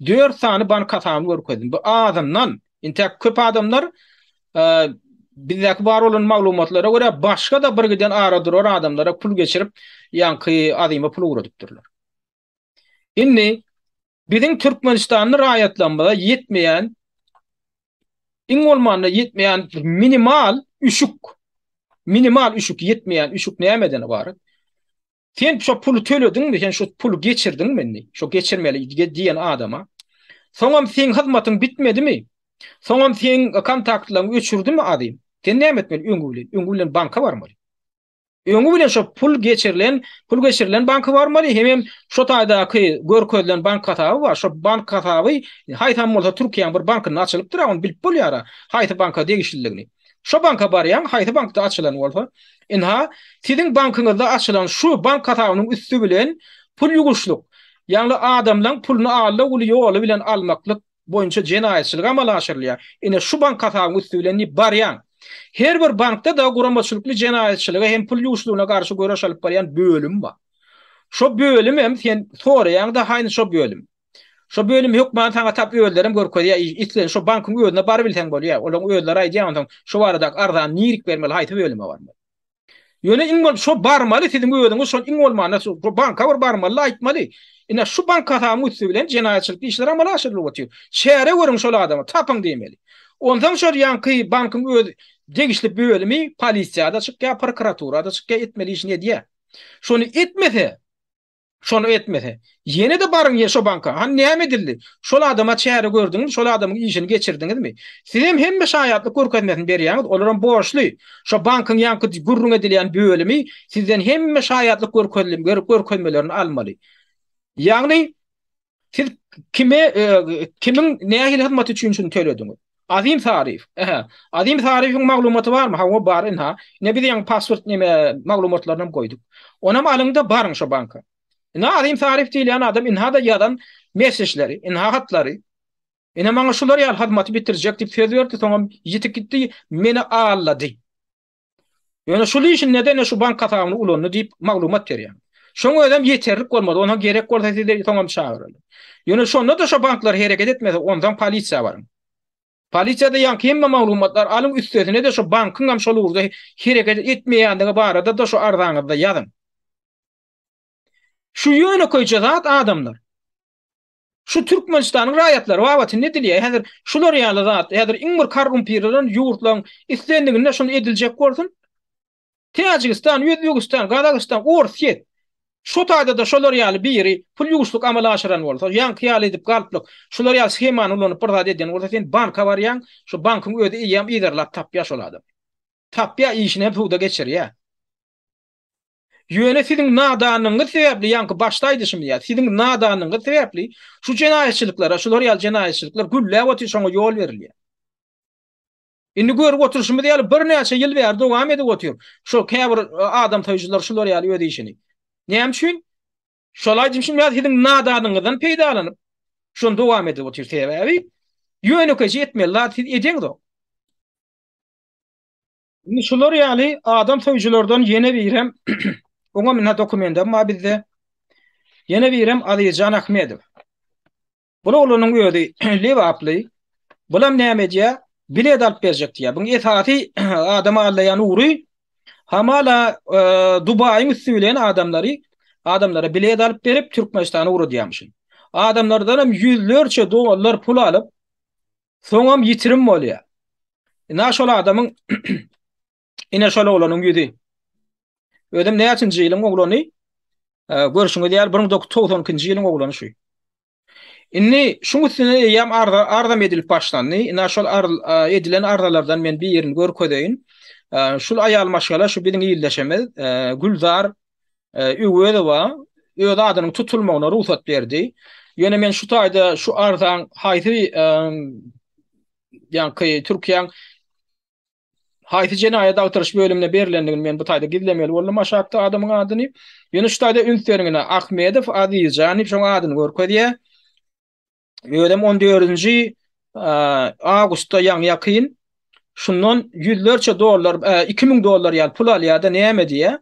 dört sany bank hasabyny görkezdim. Bu azyndan Intäk köp adamlar bizdäki bar bolan maglumatlara görä başga-da birgiden ara durar adamlara pul geçirip ýaňky Azyma pul ugradypdyrlar. Indi biziň Türkmenistanly raýatlarymyza ýetmeýän iň bolmanda ýetmeýän minimal üşük, minimal üşük ýetmeýän üşük nämeden ybarat? Sen şo puly tölediňmi, sen şo puly geçirdiňmi indi? Şo geçirmeli diýen adama. Soňam seň hyzmatyň bitmedimi? Soňam seň kontaktlaryňy öçürdimi adym? Sen näme etmeli öňi bilen? Öňi bilen banka barmaly. Öňi bilen şo pul geçirilen, pul geçirilen banka barmaly, hem hem şo taýdaky görkezilen bank hasaby bar. Şo bank hasaby haýsam bolsa Türkiýäniň bir bankynda açylypdyr, ony bilip bolýar. Haýsy banka degişlidigini. Şo banka barýaň, haýsy bankda açylan bolsa, ynha, siziň bankyňyzda açylan şu bank hasabynyň üsti bilen pul ýuwuşlyk, ýagny adamlaň puluny alda-gul ýoly bilen almaklyk boýunça jenaýatçylyk amala aşyrylýar, ine, şu bank hasabyň üsti bilen diýip barýaň. Her bir bankda-da guramaçylykly jenaýatçylyga hem pul ýuwuşlygyna garşy göreş alyp barýan bölüm bar. Şo bölümem sen soraýaň-da, haýny şo bölüm. Şo bölüm hökman saňa tap özlerem görkezýär islen şo bankyň özüne bar bilseň bolýar olaň özleri aýdýar onsoň şo baradak arzany nirik bermeli haýsy bölüme barmaly. Ýöne iň bolup şo barmaly siziň özüňiz şol iň bolmanda şo banka bir barmaly-da aýtmaly ine şu bank hasabyň üsti bilen jenaýatçylyk işler amala aşyrylyp otyr çäre görüň şol adama tapyň diýmeli onsoň şo ýanky bankyň öz degişli bölümi polisiýada çykýar prokuraturada çykýar etmeli işini edýär şony etmese Şony etmese. Ýene-de baryň ýer şo banka. Hany näme edildi? Şol adama çäre gördüňiz, şol adamyň işini geçirdiňizmi? Sizem hemme şaýatlyk görkezmesini berýäňiz, olaram borçly. Şo bankyň ýaňky gürrüň edilýän bölümi sizden hemme şaýatlyk görkezilmgörkezmelerini almaly. Ýagny, Siz kime kimiň nähili hyzmat üçin şuny tölediňiz? Azim Sarif. Ähä. Azim Sarifiň maglumaty barmy? Hawa, bar ynha. Ine biz ýaňy pasport näme maglumatlaryny hem goýduk. Onam alyňda baryň şo banka. Ine Azim Sarif diýilýän adam ynha-da ýazan messeçleri, ynha hatlary. Ine maňa şular ýaly hyzmaty bitirjek diýip söz berdi, soňam ýitip gitdi, meni aldady. Ýöne şul işinde-de ne şu bank hasabyny ulandy diýip maglumat berýär. Şoň özem ýeterlik bolmady. Onam gerek bolsa sizi soňam çagyraly. Ýöne şonda-da şo banklar hereket etmese, onsoň polisiýa baryň. Polisiýada ýaňky hemme maglumatlar alyň, üstesine-de şo bankyň hem şol ugurda hereket etmeýändigi barada-da şo arzaňyzda ýazyň. Şu ýönekeýje zat adamlar. Şu Türkmenistanyň raýatlary babatyn edilýär. Häzir şular ýaly zat, häzir iň bir karrumpirlenen ýurtlaryň islendiginde şuny ediljek bolsun. Täjigistan, Özbegistan, Gazagystan, Orsýet. Şu taýda-da şolar ýaly biri pul ýuwuşlyk amala aşyran bolsa, ýaňky ýaly edip galplyk, şular ýaly shemany ulanyp bir zat edýän bolsa, sen banka barýaň, şu bankyň özi eýýäm yzarlap tapýar şol adamy. Tapýar, işini hem suwda geçirýär. Ýöne siziň nadanlygyňyz sebäpli, ýaňky başda aýdyşym ýaly, siziň nadanlygyňyz sebäpli şu jenaýatçylyklara, şular ýaly jenaýatçylyklar gülläp otyr, şoňa ýol berilýär. Indi görüp oturyşymyz ýaly, birnäçe ýyl bäri dowam edip otyr, şol käbir adamsoýujylar şular ýaly öz işini. Näme üçin? Şol aýdyşym ýaly, siziň nadanlygyňyzdan peýdalanyp, şony dowam edip otyr, sebäbi ýönekeýje etmeli zat siz edeňzok. Indi şular ýaly adam söýüjilerden ýene birem oňa mine dokumentam bar bizde. Ýene birem Azizjan Ahmedow. Bu oglanyň özi Lebaply. Bulam näme edýär? Bilet alyp berjek diýýär. Buň esasy adam alýan ugry hamala e, Dubaýyň üsti bilen adamlary adamlara bilet alyp berip Türkmenistana ugradýarmyşyn. Adamlardan hem ýüzlerçe dollar pul alyp Soňam ýitirim bolýar. Ina şol adamyň ine şol oglanyň ýüzi. Özem näçinji ýylyň oglany? Görşüňiz ýaly 1992-nji ýylyň oglany şu. Indi şuň üstüne eýýäm arza arzam edilip başlandy. Ina şol edilen arzalardan men birini görkezeýin. Şul aýal maşgala şu biziň ildeşimiz Gülzar Öwezowa öz adynyň tutulmagyna rugsat berdi. Ýöne men şu taýda şu arzaň haýsy ýaňky Türkiýäň haýsy jenaýat agtaryş bölümine berlendigini men bu taýda gizlemeli boldum aşakda adamyň adyny. Ýöne şu taýda üns beriň ine Ahmedow Azizjan diýip şoň adyny görkezýär. Özem 14-nji awgustda ýagny ýakyn şundan ýüzlerçe dollar, 2000 dollar ýaly pul alýar-da näme diýýär?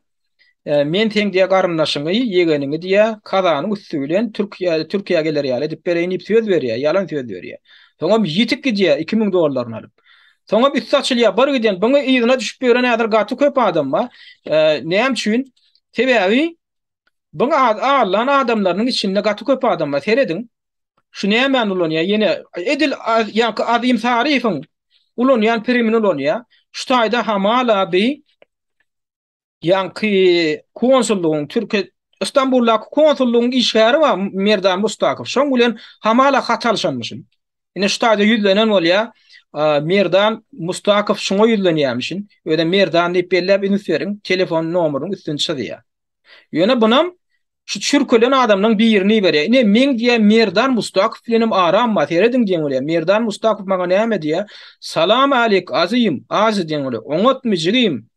Men seň diýýär garyndaşyňy, ýegeniňi diýýär, kazanyň üsti bilen Türkiýä, Türkiýä geler ýaly edip bereýin diýip söz berýär, ýalan söz berýär. Soňam ýitip gidýär 2000 dollaryny alyp. Soňam üsti açylýar, bir giden buny yzyna düşüp ýören häzir gaty köp adam bar. Näme üçin? Sebäbi Byň allan adamlarynyň içinde gaty köp adam bar serediň şu nämäni ulanýar ýene edil ýaňky Azim Saryýewiň ulanýan primini ulanýar şu taýda hamala bi ýaňky konsullygyň türki Istanbuldaky konsullygyň işgäri bar Merdan Mustakow şoň bilen hamala hat alyşanmyşyn ine şu taýda ýüzlenen bolýar Merdan Mustakow şuňa ýüzlenýärmişin özem Merdan diýip belläp üns beriň telefon nomeryň üstüni çyzýar. Ýöne bunam şu çürkelen adamlaň birini iberýär. Ine meň diýä Merdan Mustakow bilenem aram bar. Serediň diýen bolýar. Merdan Mustakow maňa näme diýä? Salam alik azym, azy diýen bolýar. Oňatmy jigim?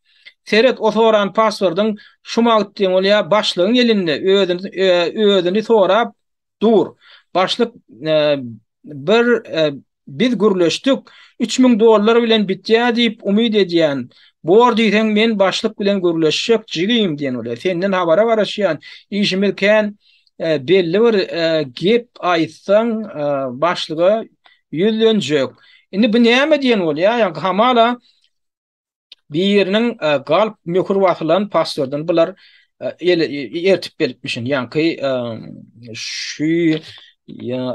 Seret o soran paswordyň şu wagt diýen bolýar başlygyň elinde özüni özüni sorap Dur. Başlyk bir biz gürleşdik, üç müň dollar bilen bitýär diýip umyt edýän. Bor diýseň men başlyk bilen gürleşjek jigim diýen ol. Senden habara garaşýan. Işimiz kän belli bir gep aýtsaň başlyga ýüzlenjek. Indi bu näme diýen ol ýa ýa hamala Biriniň galp möhür basylan pasportyn bular ertip beripmişin. Ýaňky şu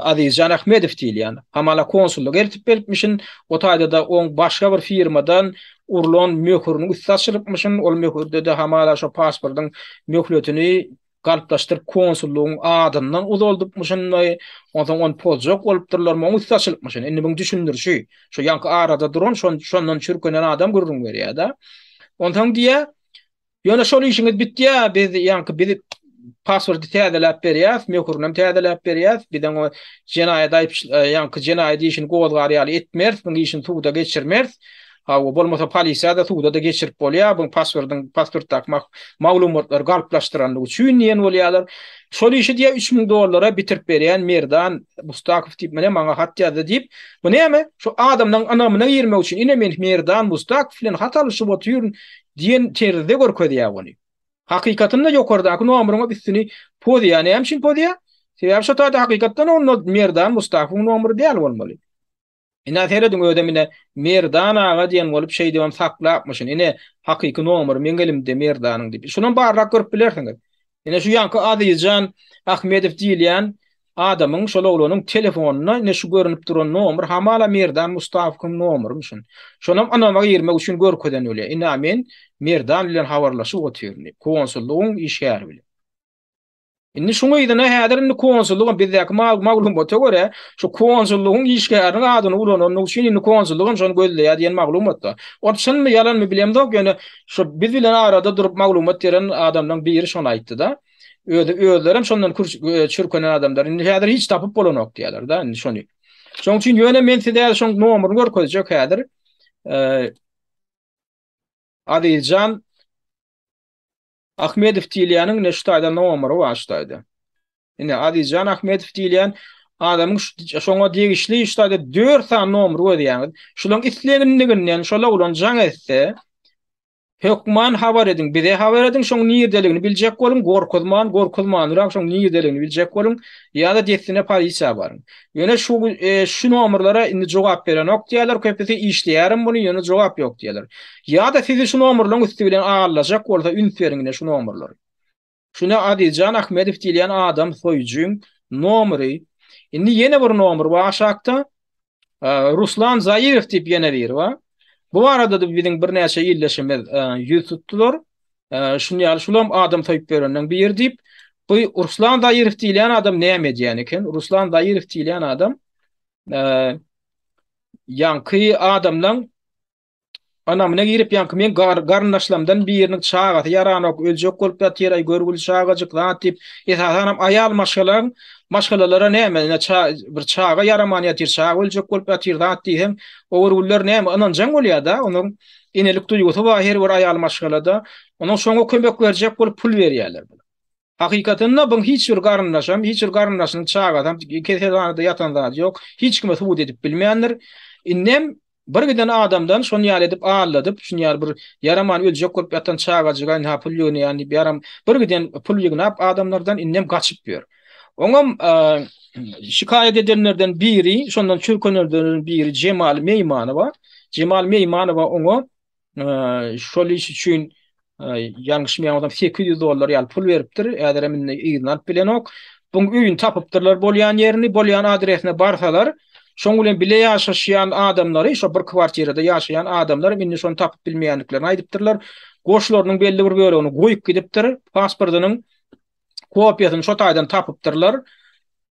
Azizjan Ahmedow diýilýän hamala konsullyk ertip beripmişin. O taýda-da oň başga bir firmadan urlan möhüriniň üsti açylypmyşyn. Ol möhürde-de hamala şo pasportyň möhletini Galplaşdyryp konsullygyň adyndan uzaldypmyşynmy, onsoň ony pozjak bolupdyrlarmy, oň üsti açylypmyşyn. Indi muny düşündirişi, şu ýaňky arada duran, şondan çürkenen adam gürrüň berýär-de. Onsoň diýýär, Ýöne şol işiňiz bitýär, biz ýaňky biz pasporty täzeläp berýäs, möhürinem täzeläp berýäs, biziň o jenaýat aýypçy, ýaňky jenaýat işini gozgar ýaly etmeris, muň işini suda geçirmeris. Hawa, bolmasa polisiýada, suwda-da geçirip bolýar, bu pasportyň, pasportdaky maglumatlary galplaşdyrandygy üçin diýen bolýarlar. Şol işi diýýär, üç müň dollara bitirip berýän Merdan Mustakow diýip, mine maňa hat ýazdy diýip, bu näme, şu adamlaryň ynamyna girmek üçin, ine men Merdan Mustakow bilen hat alyşyp otyryn diýen terzde görkezýär ony. Hakykatynda ýokardaky nomeriňe üstüni pozýar, näme üçin pozýar? Sebäbi şo taýda hakykatdan onda Merdan Mustakowyň nomeri däl bolmaly. Ine serediň özem ine Merdan aga diýen bolup şeýdibem saklapmyşyn ine hakyky nomery meň elimde Merdanyň diýip şunam barrak görüp bilersiňiz. Ine şu ýanky Azizjan Ahmedow diýilýän adamyň şol oglanyň telefonynda ine şu görünip duran nomer hamala Merdan Mustafowyň nomerymyşyn. Şonam ynama girmek üçin görkezen welin ine men Merdan bilen habarlaşyp otyryn diýip konsullygyň işgäri bilen. Indi şuňa ýene häzir indi konsullygyň bizdäki maglumata görä, şu konsullygyň işgäriniň adyny ulanandygy üçin indi konsullyk hem şony gözleýär diýen maglumatda. Ol çynmy, ýalanmy bilemzok, ýöne şu biz bilen arada durup maglumat beren adamlaryň biri şony aýtdy-da. Özi özleri hem şondan kür çürkenen adamlar. Indi häzir hiç tapyp bolanok diýýärler-de indi şony. Şonuň üçin ýöne men size şoň nomerini görkezjek häzir. Eee Azizjan Ahmedow diýilýäniň neştaýda nomeri bar ştaýda. Ine Azizjan Ahmedow diýilýän adamyň şoňa degişli ştaýda dört sany nomer gözýäňiz. Şulaň isleginliginden şol oglan jaň etse hökman habar ediň bize habar ediň şoň nirdeligini biljek boluň gorkuzman gorkuzmanrak şoň nirdeligini biljek boluň ýa-da dessine polisiýa baryň. Ýöne şu e, şu nomerlere indi jogap berenok diýerler, köpüsi işleýärin bunu, ýöne jogap ýok diýerler. Ýa-da sizi şu nomerleriň üsti bilen allajak bolsa üns beriň ine şu nomerler. Şuna Azizjan Ahmedow diýilýän adam soýujyň nomeri. Indi ýene bir nomer bar aşakda. E, Ruslan Zairow diýip ýene biri bar. Bu barada da biziň birnäçe ildeşimiz e, ýüz tutdular. Şuny ýaly şulam adam toýup berenden biri diýip, bu Ruslan Zaýerow diýilýän adam näme edýän eken? Ruslan Zaýerow diýilýän adam ýaňky adamlaň ynamyna girip, ýaňky meň garyndaşlarymdan biriniň çagasy ýaranok, öljek bolup ýatyr, aý görgüli çagajyk zat diýip, esasanam aýal maşgalaň maşgalalara näme, ine bir çaga ýaraman ýatyr, çaga öljek bolup ýatyr zat diýseň, o görgüliler näme ynanjaň bolýar-da onuň. enelik duýgusy bar her bir aýal maşgalada. Onuň şoňa kömek berjek bolup pul berýärler. Hakykatynda bu hiç bir garyndaşam, hiç bir garyndaşynyň çagasam keselhanada ýatan zady ýok. Hiç kime subut edip bilmändir. Indem bir giden adamdan şony ýaly edip aldadyp, şuny ýaly bir ýaraman öljek bolup ýatan çagajyga ynha pul ýygnýan diýip ýaram bir giden pul ýygnap adamlardan indem gaçyp ýör. Oňam şikaýat edenlerden biri, şondan çürkenenlerden biri Jemal Meýmanowa. Jemal Meýmanowa oňa şol iş üçin ýalňyşmaýan bolsam 800 dollar ýaly pul beripdir. Häzir hem indi yzyny alyp bilenok. Buň öýüni tapypdyrlar bolýan ýerini, bolýan adresine barsalar, şoň bilen bile ýaşaşýan adamlary, şo bir kwartirada ýaşaýan adamlar indi şony tapyp bilmeýändiklerini aýdypdyrlar. Goşlarynyň belli bir bölegini goýup gidipdir, pasportynyň kopiýasyny şo taýdan tapypdyrlar.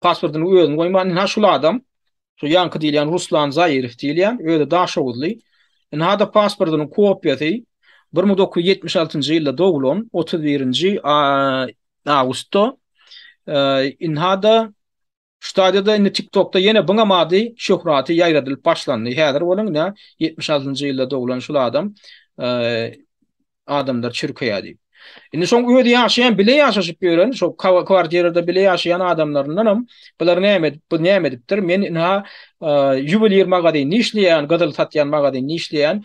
Pasportyny özüni goýman, ynha şul adam, şu ýaňky diýilýän Ruslan Zaýerow diýilýän, özi daşoguzly. Ynha-da pasportynyň kopiýasy, bir müň dokuz ýüz ýetmiş altynjy ýylda doglan, otuz birinji awgustda. Ynha-da Stadiýada indi TikTokda ýene Byňam ady şöhraty ýaýradylyp başlandy. Häzir bolun ine ýetmiş altynjy ýylda doglan şul adam adamlar çürkeýä diýip. Indi şoň özi ýaşaýan bile ýaşaşyp ýören şo kwartirada bile ýaşaýan adamlaryndanam bular näme edip bu näme edipdir men ina ýuweliýr magazynda işleýän gyzyl satýan magazynda işleýän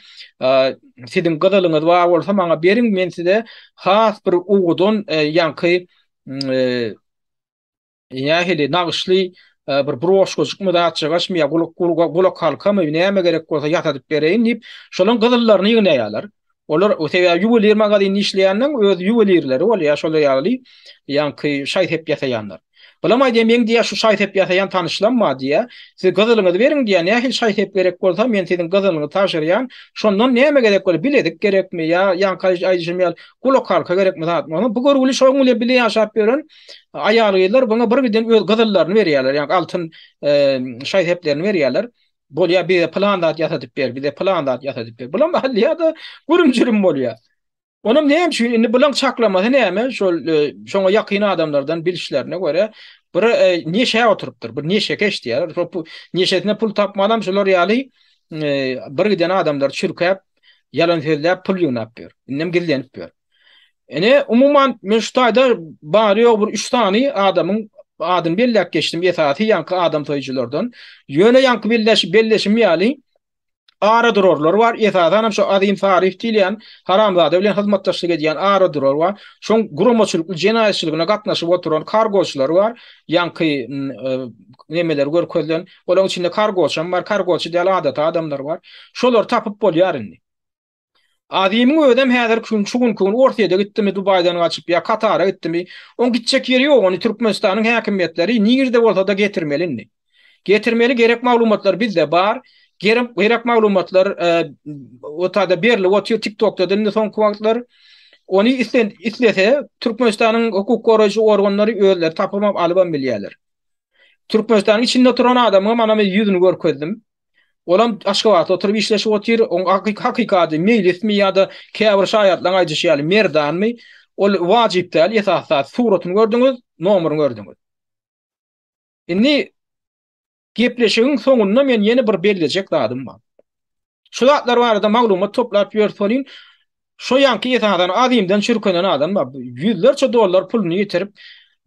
siziň gyzylyňyz bar bolsa maňa beriň men size has bir owudan ýaňky Nähili, nagyşly bir broşkajykmy, zatjagaşmy ýa gulakhalkamy, näme gerek bolsa ýasadyp bereýin diýip, şolaryň gyzyllaryny ýygnaýarlar. Olar, sebäbi ýuweliýr magazynda işleýänleriň öz ýuwelirleri bolýar, şolar ýaly ýaňky şaý-sep ýasaýanlar. Bulam aýdýar, meň diýýär, şu şaý-sep ýasaýan tanyşlam bar diýýär. Siz gyzylyňyzy beriň diýýär, nähili şaý-sep gerek bolsa, men siziň gyzylyňyzy tabşyrýan. Şondan näme gerek bolýar, bilezik gerekmi ýa ýaňky aýdyşym ýaly gulakhalka gerekmi, zatmy, bu görgüli şonuň bilen bile ýaşap ýören, Aýal-gyzlar buňa birgiden öz gyzyllaryny berýärler, ýa altyn şaý-seplerini berýärler. Bolýar, bize pylan zat ýasadyp ber, bize pylan zat ýasadyp ber. Bulam alýar-da, gürüm-jürüm bolýar. Onam näme üçin? Indi bulaň çaklamasy näme? Şol şoňa ýakyn adamlardan bilişlerine görä, bir neşä oturypdyr, bir neşekeş diýýärler. Şol neşesine pul tapmanam şular ýaly birgiden adamlary çürkäp, ýalan sözläp, pul ýygnap ýör. Indem gizlenip ýör. Ene umuman men şu taýda bary ýogy bir üç sany adamyň adyny belläp geçdim esasy ýaňky adam soýujylardan. Ýöne ýaňky belleş belleşim ýaly ara durarlar bar. Esasan hem şu Azim Saryýew diýilýän haramzada bilen hyzmatdaşlyk edýän ara durar bar. Şoň guramaçylykly jenaýatçylygyna gatnaşyp oturan kargoçylar bar. Ýaňky nemeler görkezilen. Olaryň içinde kargoçam bar. Kargoçy däl adaty adamlar bar. Şolary tapyp bolýar indi. Azimiň özem häzir kün şu günki gün Orsýede gitdimi Dubaýdan gaçyp ýa Katara gitdimi oň gitjek ýeri ýok ony Türkmenistanyň häkimiýetleri nirde bolsada getirmeli indi. Getirmeli gerek maglumatlar bizde bar gerek maglumatlar ortada berlip otyr tik tokda indi soňky wagtlar ony islese Türkmenistanyň hukuk goraýjy organlary özleri tapybam alybam bilýärler. Türkmenistanyň içinde oturan adamyňam ana men ýüzüni görkezdim. Olam Aşgabatda oturyp işleşip otyr, oň hakykady meýlismi ýa-da käbir şaýatlaň aýdyşy ýaly Merdanmy, ol wajyp däl, esasy zat suratyny gördüňiz, nomeryny gördüňiz. Indi gepleşigiň soňunda men ýene bir bellejek zadym bar. Şu zatlar barada maglumat toplap ýörüs welin, Şo ýaňky esasan azymdan çürkenen adam bar. Ýüzlerçe dollar puluny ýitirip,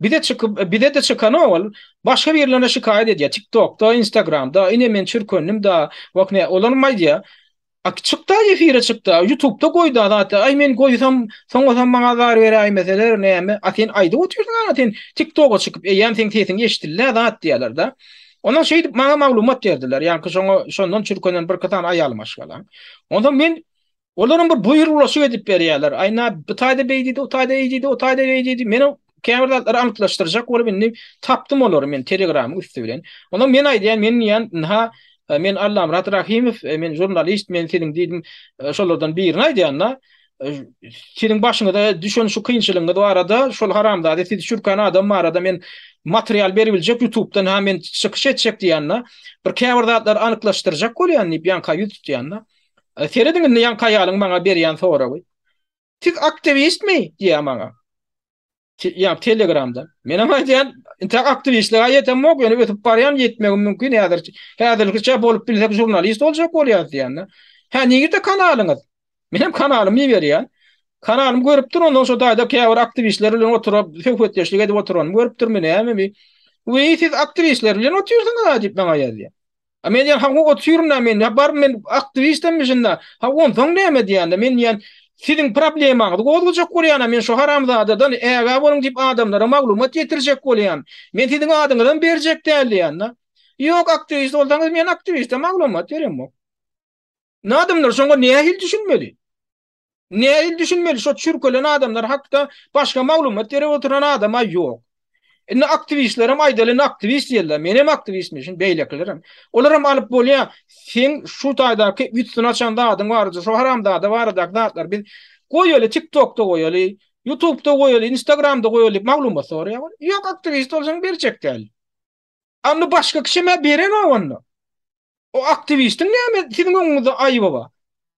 bize çykyp, bize-de çykanok ol, başga birlerine şikaýat edýär. Tiktokda, Instagramda, ine men çürkendim-da, wah ne, olaram aýdýar, Ak çykda efire çykda, ýutubda goýda zat, aý men goýsam, soňasam maňa zar beräýmeseler näme, a sen aýdyp otyrsyň ana sen tiktoga çykyp, eýýäm seň sesiň eşdildi-ä zat diýýärler-de. Ondan şeýdip maňa maglumat berdiler, ýaňky şoňa şondan çürkenen birki sany aýalym aşgalaň. Onsoň men Olaryň bir buýruglaşyk edip berýärler. Aýna bu taýda beý diýdi, o taýda eý diýdi, o taýda beý diýdi. Men käbir zatlary anyklaşdyrjak bolup indi tapdym olary men telegramyň üsti bilen. Onda men aýdýan, men diýýän, ynha e, men Allamyrat Rahimow, e, men žurnalist, men siziň diýdim, e, şolardan birini aýdýan-da. Siziň başyňyza düşen şu kynçylygyňyz barada, şol haramzada sizi çürkän adam barada men material berip biljek YouTube-dan ha men çykyş etjek diýende, bir käbir zatlary anyklaşdyrjak bolýan diýip ýanka ýüz tutýanda. Serediň indi ýaňky aýalyň maňa berýän soragy. Siz aktiwistmi? diýýär maňa. Ýa telegramdan. Menem aýdýan, intäk aktiwistlige ýetemok, ýöne ösüp barýan, ýetmegim mümkin häzir. Häzirlikçe bolup bilsek žurnalist boljak bolýas diýende. Hä, nirde kanalyňyz? Menem kanalymy iberýän. Kanalymy görüpdir, ondan şo taýda käbir aktiwistler bilen oturyp, söhbetdeşlik edip oturanymy görüpdirmi, nämemi? Wiý, siz aktiwistler bilen otyrsyňyz-a diýip maňa ýazýar. A men diýen hawa otyryna men ya bar men aktiwistemmişinda ha onsoň näme diýende men diýen siziň problemaňyzy gozgajak bolýana men şu haramzadadan ägä boluň diýip adamlara maglumat ýetirjek bolýan men siziň adyňyzam berjek däl diýende ýok aktiwist bolsaňyz men aktiwiste maglumat beremok. Indi adamlar şoňa nähili düşünmeli? Nädip düşünmeli şo çürkelen adamlar hakda başga maglumat berip oturan adama ýok. Indi aktiwistlerem aýdaly indi aktiwist diýerler. Men hem aktiwistmişin, beýlekilerem. Olaram alyp bolýa. Sen şu taýdaky üstün açan zadyň barada, şu haramzada baradaky zatlar biz goýaly TikTokda goýaly, YouTubda goýaly, Instagramda goýaly maglumat soraýar. Ýok aktiwist bolsaň berjek däl. Ony başga kişemä berenok onda. O aktiwistiň näme siziň öňüňizde aýby bar?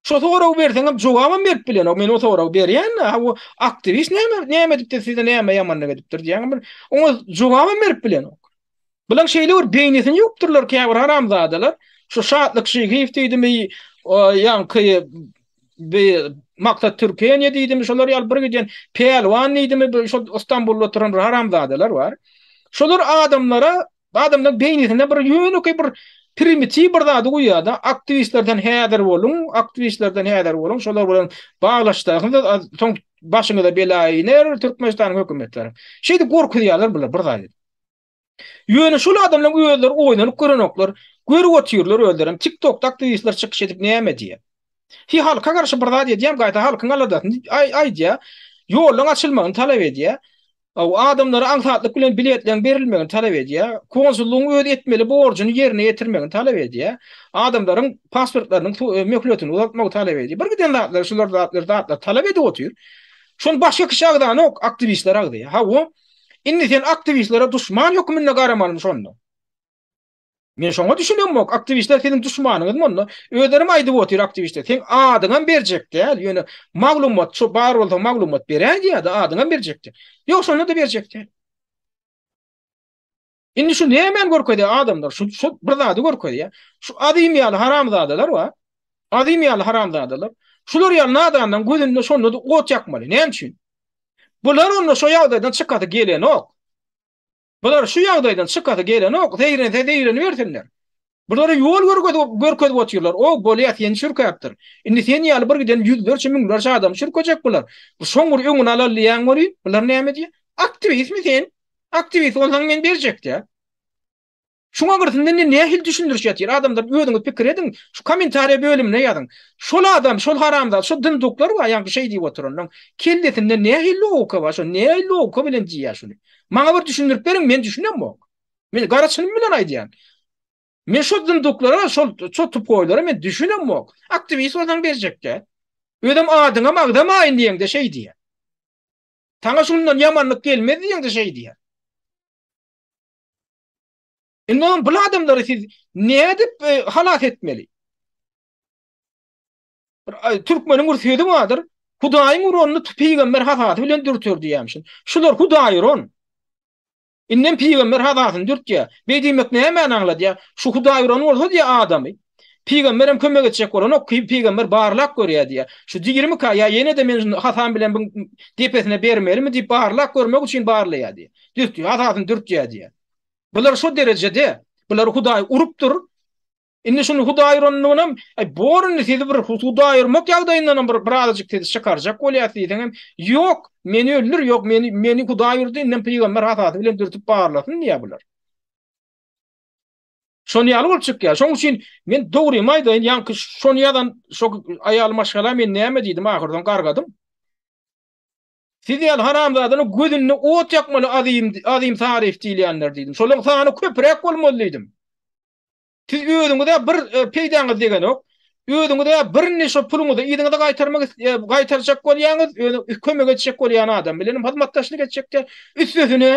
Şo soragy berseňem jogabam berip bilenok. Men o soragy berýän-de, ha bu aktiwist näme näme edipdir size näme ýamanlyk edipdir diýen bir oňa jogabam berip bilenok. Bulan şeýle bir beýnisini ýupdyrlar käbir haramzadalar. Şu Şatlyk Şyhyýew diýdimi, ýaňky bir maksat Türkiýe diýdim şolar ýaly bir giden Pälwan diýdim bu şol Istanbulda oturan haramzadalar bar. Şolar adamlara adamlar beýnisinde bir ýönekeý bir primitiw bir zady goýýarda aktiwistlerden häzir boluň aktiwistlerden häzir boluň şolar bilen baglaşsaňyz soň başyňyza bela iner Türkmenistanyň hökümetleri. Şeýdip gorkuzýarlar bular bir zady. Ýöne şol adamlaň özleri oýnanyp görenoklar, görüp otyrlar özlerem tiktokda aktiwistler çykyş edip näme diýýä. Hi halka garşy bir zat edýäm gaýta halkyň aladasyny aýdýa. Ýollaň açylmagyny talap edýä. Aw adamlara aňsatlyk bilen biletleň berilmegini talap edýä. Konsullygyň öz etmeli borjuny ýerine ýetirmegini talap edýä. Adamlaryň pasportlarynyň möhletini uzaltmagy talap edýä. Bir giden zatlar şular zatlar zatlar talap edip otyr. Şony başga kişi agzanok, aktiwistler agzaýa. Hawa. Indi sen aktiwistlere duşman hökmünde garamalymy şonda? Men şoňa düşünemok. Aktiwistler siziň duşmanyňyz monda. Özlerim aýdyp otyr aktiwistler. Sen adyňam berjek däl. Ýöne maglumat şu bar bolsa maglumat beräýdi ýa-da adyňam berjekdi. Ýok şonda da berjekdi. Indi şu nämäni görkezýär adamlar? Şu şu bir zady görkezýär. Şu azym ýaly haramzadalar bar. Azym ýaly haramzadalar. Şular ýaly nadandan gözünde şonda da ot ýakmaly. Näme üçin? Bular onda şu ýagdaýdan çykasy gelenok. Bular şu ýagdaýdan çykasy gelenok. Zeýrense zeýrenibersinler. Bulara ýol görkezip görkezip otyrlar. O, bolýa, sen çürkäpdir. Indi sen ýaly bir giden ýüzlerçe müňlerçe adamy çürkejek bular. Bu şoň bir öňüni alal diýýäň welin, bular näme diýýä? Aktiwistmi sen? Aktiwist bolsaň men berjek diýýä. Şuňa girsin indi nähili düşündiriş ýatyr. Adamlar özüňiz pikir ediň, şu kommentariýa bölümine ýazyň. Şol adam, şol haramzat, şol dinduklar bar, ýaňky şeý diýip oturanlaň. Kellesinde nähili logika bar, şo nähili logika bilen diýýä şuny. Maňa bir düşündirip beriň, men düşünemok. Men gara çynym bilen aýdýan. Men şol zınduklara, şol şol tupoýlara men düşünem yok. Aktivist bolsaň berjekde. Özüm adyňam agzamaýyn diýende şeý diýýär. Taňa şundan ýamanlyk gelmez diýende şeý diýýär. Indi onuň bu adamlary siz nädip e, halas etmeli? Türkmeniň bir sözü bardyr. Hudaýyň uranyny pygamber hasasy bilen dürtür diýýärmişin. Şular Hudaýy uran. Indem pygamber hazasyny dürtýär. Beý diýmek nämäni aňladýar? Şu Hudaý uran bolsa diýýär adamy. Pygamberem kömek etjek bolanok, pygamber barlap görýär diýýär. Şu diýrimika ýa ýene-de men şu Hasan bilen biň depesine bermelimi diýip barlap görmek üçin barlaýar diýýär. Dürtýär, hazasyny dürtýär diýýär. Bular şo derejede, bulary Hudaý urupdyr. Indi şuny huda aýyrandygynam, aý bor indi sizi bir huda aýyrmak ýagdaýyndanam bir birazajyk sizi çykarjak bolýas diýseňem, ýok, meni öldür, ýok, meni meni huda aýyrdy, indem pygamber hasady bilen dürtüp barlasyn diýýär bular. Şony ýaly bolup çykýar. Şoň üçin men dogrymy aýdaýyn, ýaňky şony ýazan şo aýal maşgala men näme diýdim ahyrdan gargadym. Siz ýaly haramzadany gözünde ot ýakmaly azym azym taryf diýilýänler diýdim. Şolaryň sany köpräk bolmaly diýdim. Siz özüňize bir e, peýdaňyz degenok. Özüňize birini şo puluňyzy yzyňyza gaýtarmak e, gaýtarjak bolýaňyz, özüňiz kömek etjek bolýan adam bilen hyzmatdaşlyk etjekde. Üstesine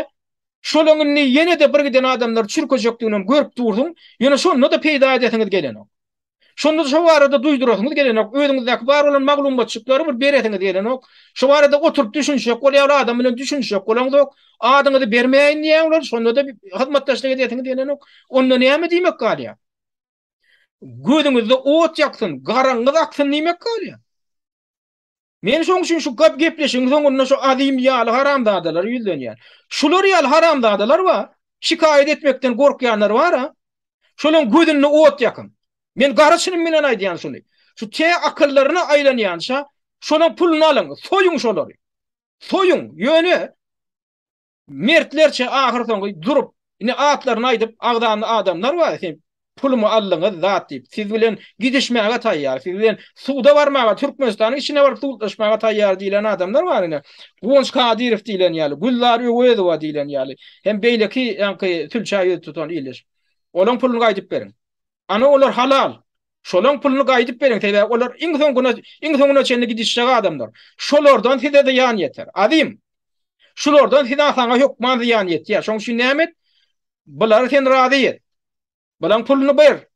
şolaň indi ýene-de bir giden adamlar çürkejekdigini görüp dursuň. Ýöne şonda da peýda edesiňiz gelenok. Şonda şo barada duýdurasyňyz gelenok, özüňizdäki bar bolan maglumatjyklary bir beresiňiz gelenok. Şo barada oturyp düşünişjek bolýar, ol adam bilen düşünişjek bolaňzok. Adyňyzy bermäýin diýýär olar, şonda-da hyzmatdaşlyk edesiňiz gelenok. Onda näme diýmek galýar? Gözüňizde ot ýaksyn, garaňyz aksyn diýmek galýar. Men şoň üçin şu köp gepleşigiň soňunda şu Azim ýaly haramzadalary ýüzlenýän. Şular ýaly haramzadalar bar. Şikaýat etmekden gorkýanlar bar-a. Şolaryň gözünde ot ýakyň. Men gara çynym bilen aýdýan şuny. Şu tä akyllaryna aýlanýança, şolaryň puluny alyň, soýuň şolary. Soýuň, ýöne Mertlerçe ahyrsoňy durup, indi atlaryny aýdyp, agzanly adamlar bar, siz pulumy aldyňyz, zat diýip, siz bilen gidişmäge taýýar, siz bilen suda barmaga, Türkmenistanyň içine baryp sudlaşmaga taýýar diýlen adamlar bar ine. Guwanç Kadyrow diýlen ýaly, Gülzar Öwezowa diýlen ýaly hem beýleki ýaňky sülçä ýüz tutan ildeş. Olaň puluny gaýdyp beriň. Ana olar halal. Şolaň puluny gaýdyp beriň sebäbi olar iň soň güne iň soňuna çenli gidişjek adamlar. Şolardan size zyýan ýeter. Azim. Şulardan size saňa hökman zyýan ýetýär. Şoň üçin näme et? Bulary sen razy et. Bulaň puluny ber.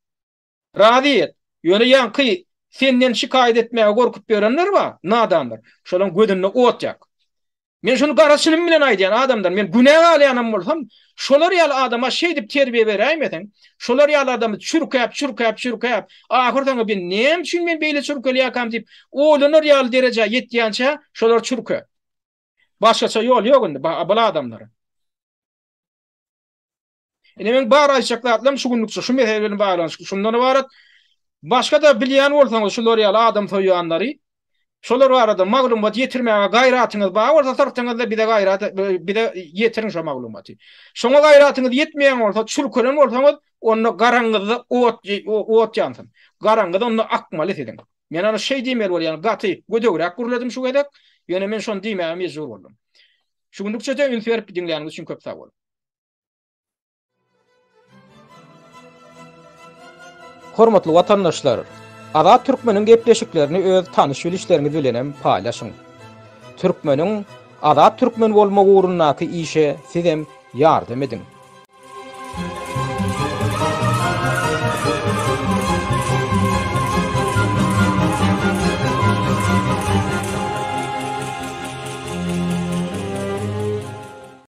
Razy et. Ýöne ýaňky senden şikaýat etmäge gorkup ýörenler bar, nadanlar. Şolaň gözünde ot ýak. Men şuny gara çynym bilen aýdýan adamdan, men günä galýanam bolsam, şolar ýaly adama şeýdip terbiýe beräýmeseň, şolar ýaly adamy çürkäp, çürkäp, çürkäp, ahyr soňy men näme üçin men beýle çürkelýärkäm diýip, oýlanar ýaly derejä ýetýänçä, şolary çürke. Başgaça ýol ýok indi bul adamlara. Ine men bar aýtjak zatlarym şu günlükçe şu mesele bilen baglanyşykly şundan ybarat. Başga-da bilýän bolsaňyz şular ýaly adam soýýanlary, şolar barada maglumat ýetirmäge gaýratyňyz bar bolsa syrtyňyzda bize gaýrat bize ýetiriň şo maglumaty. Şoňa gaýratyňyz ýetmeýän bolsa, çülkelen bolsaňyz, onda garaňyzda ot ot ýansyn. Garaňyz onda akmaly siziň. Men ony şeý diýmeli bolýan, gaty gödegräk gürledim şu gezek. Ýöne men şony diýmäge mejbur boldum. Şu günlükçe-de üns berip diňläniňiz üçin köp sag boluň. Hormatly watandaşlar, Azat Türkmeniň gepleşiklerini öz tanyş-bilişleriňiz bilenem paýlaşyň. Türkmeniň Azat Türkmen bolmagy ugrundaky işe sizem ýardam ediň.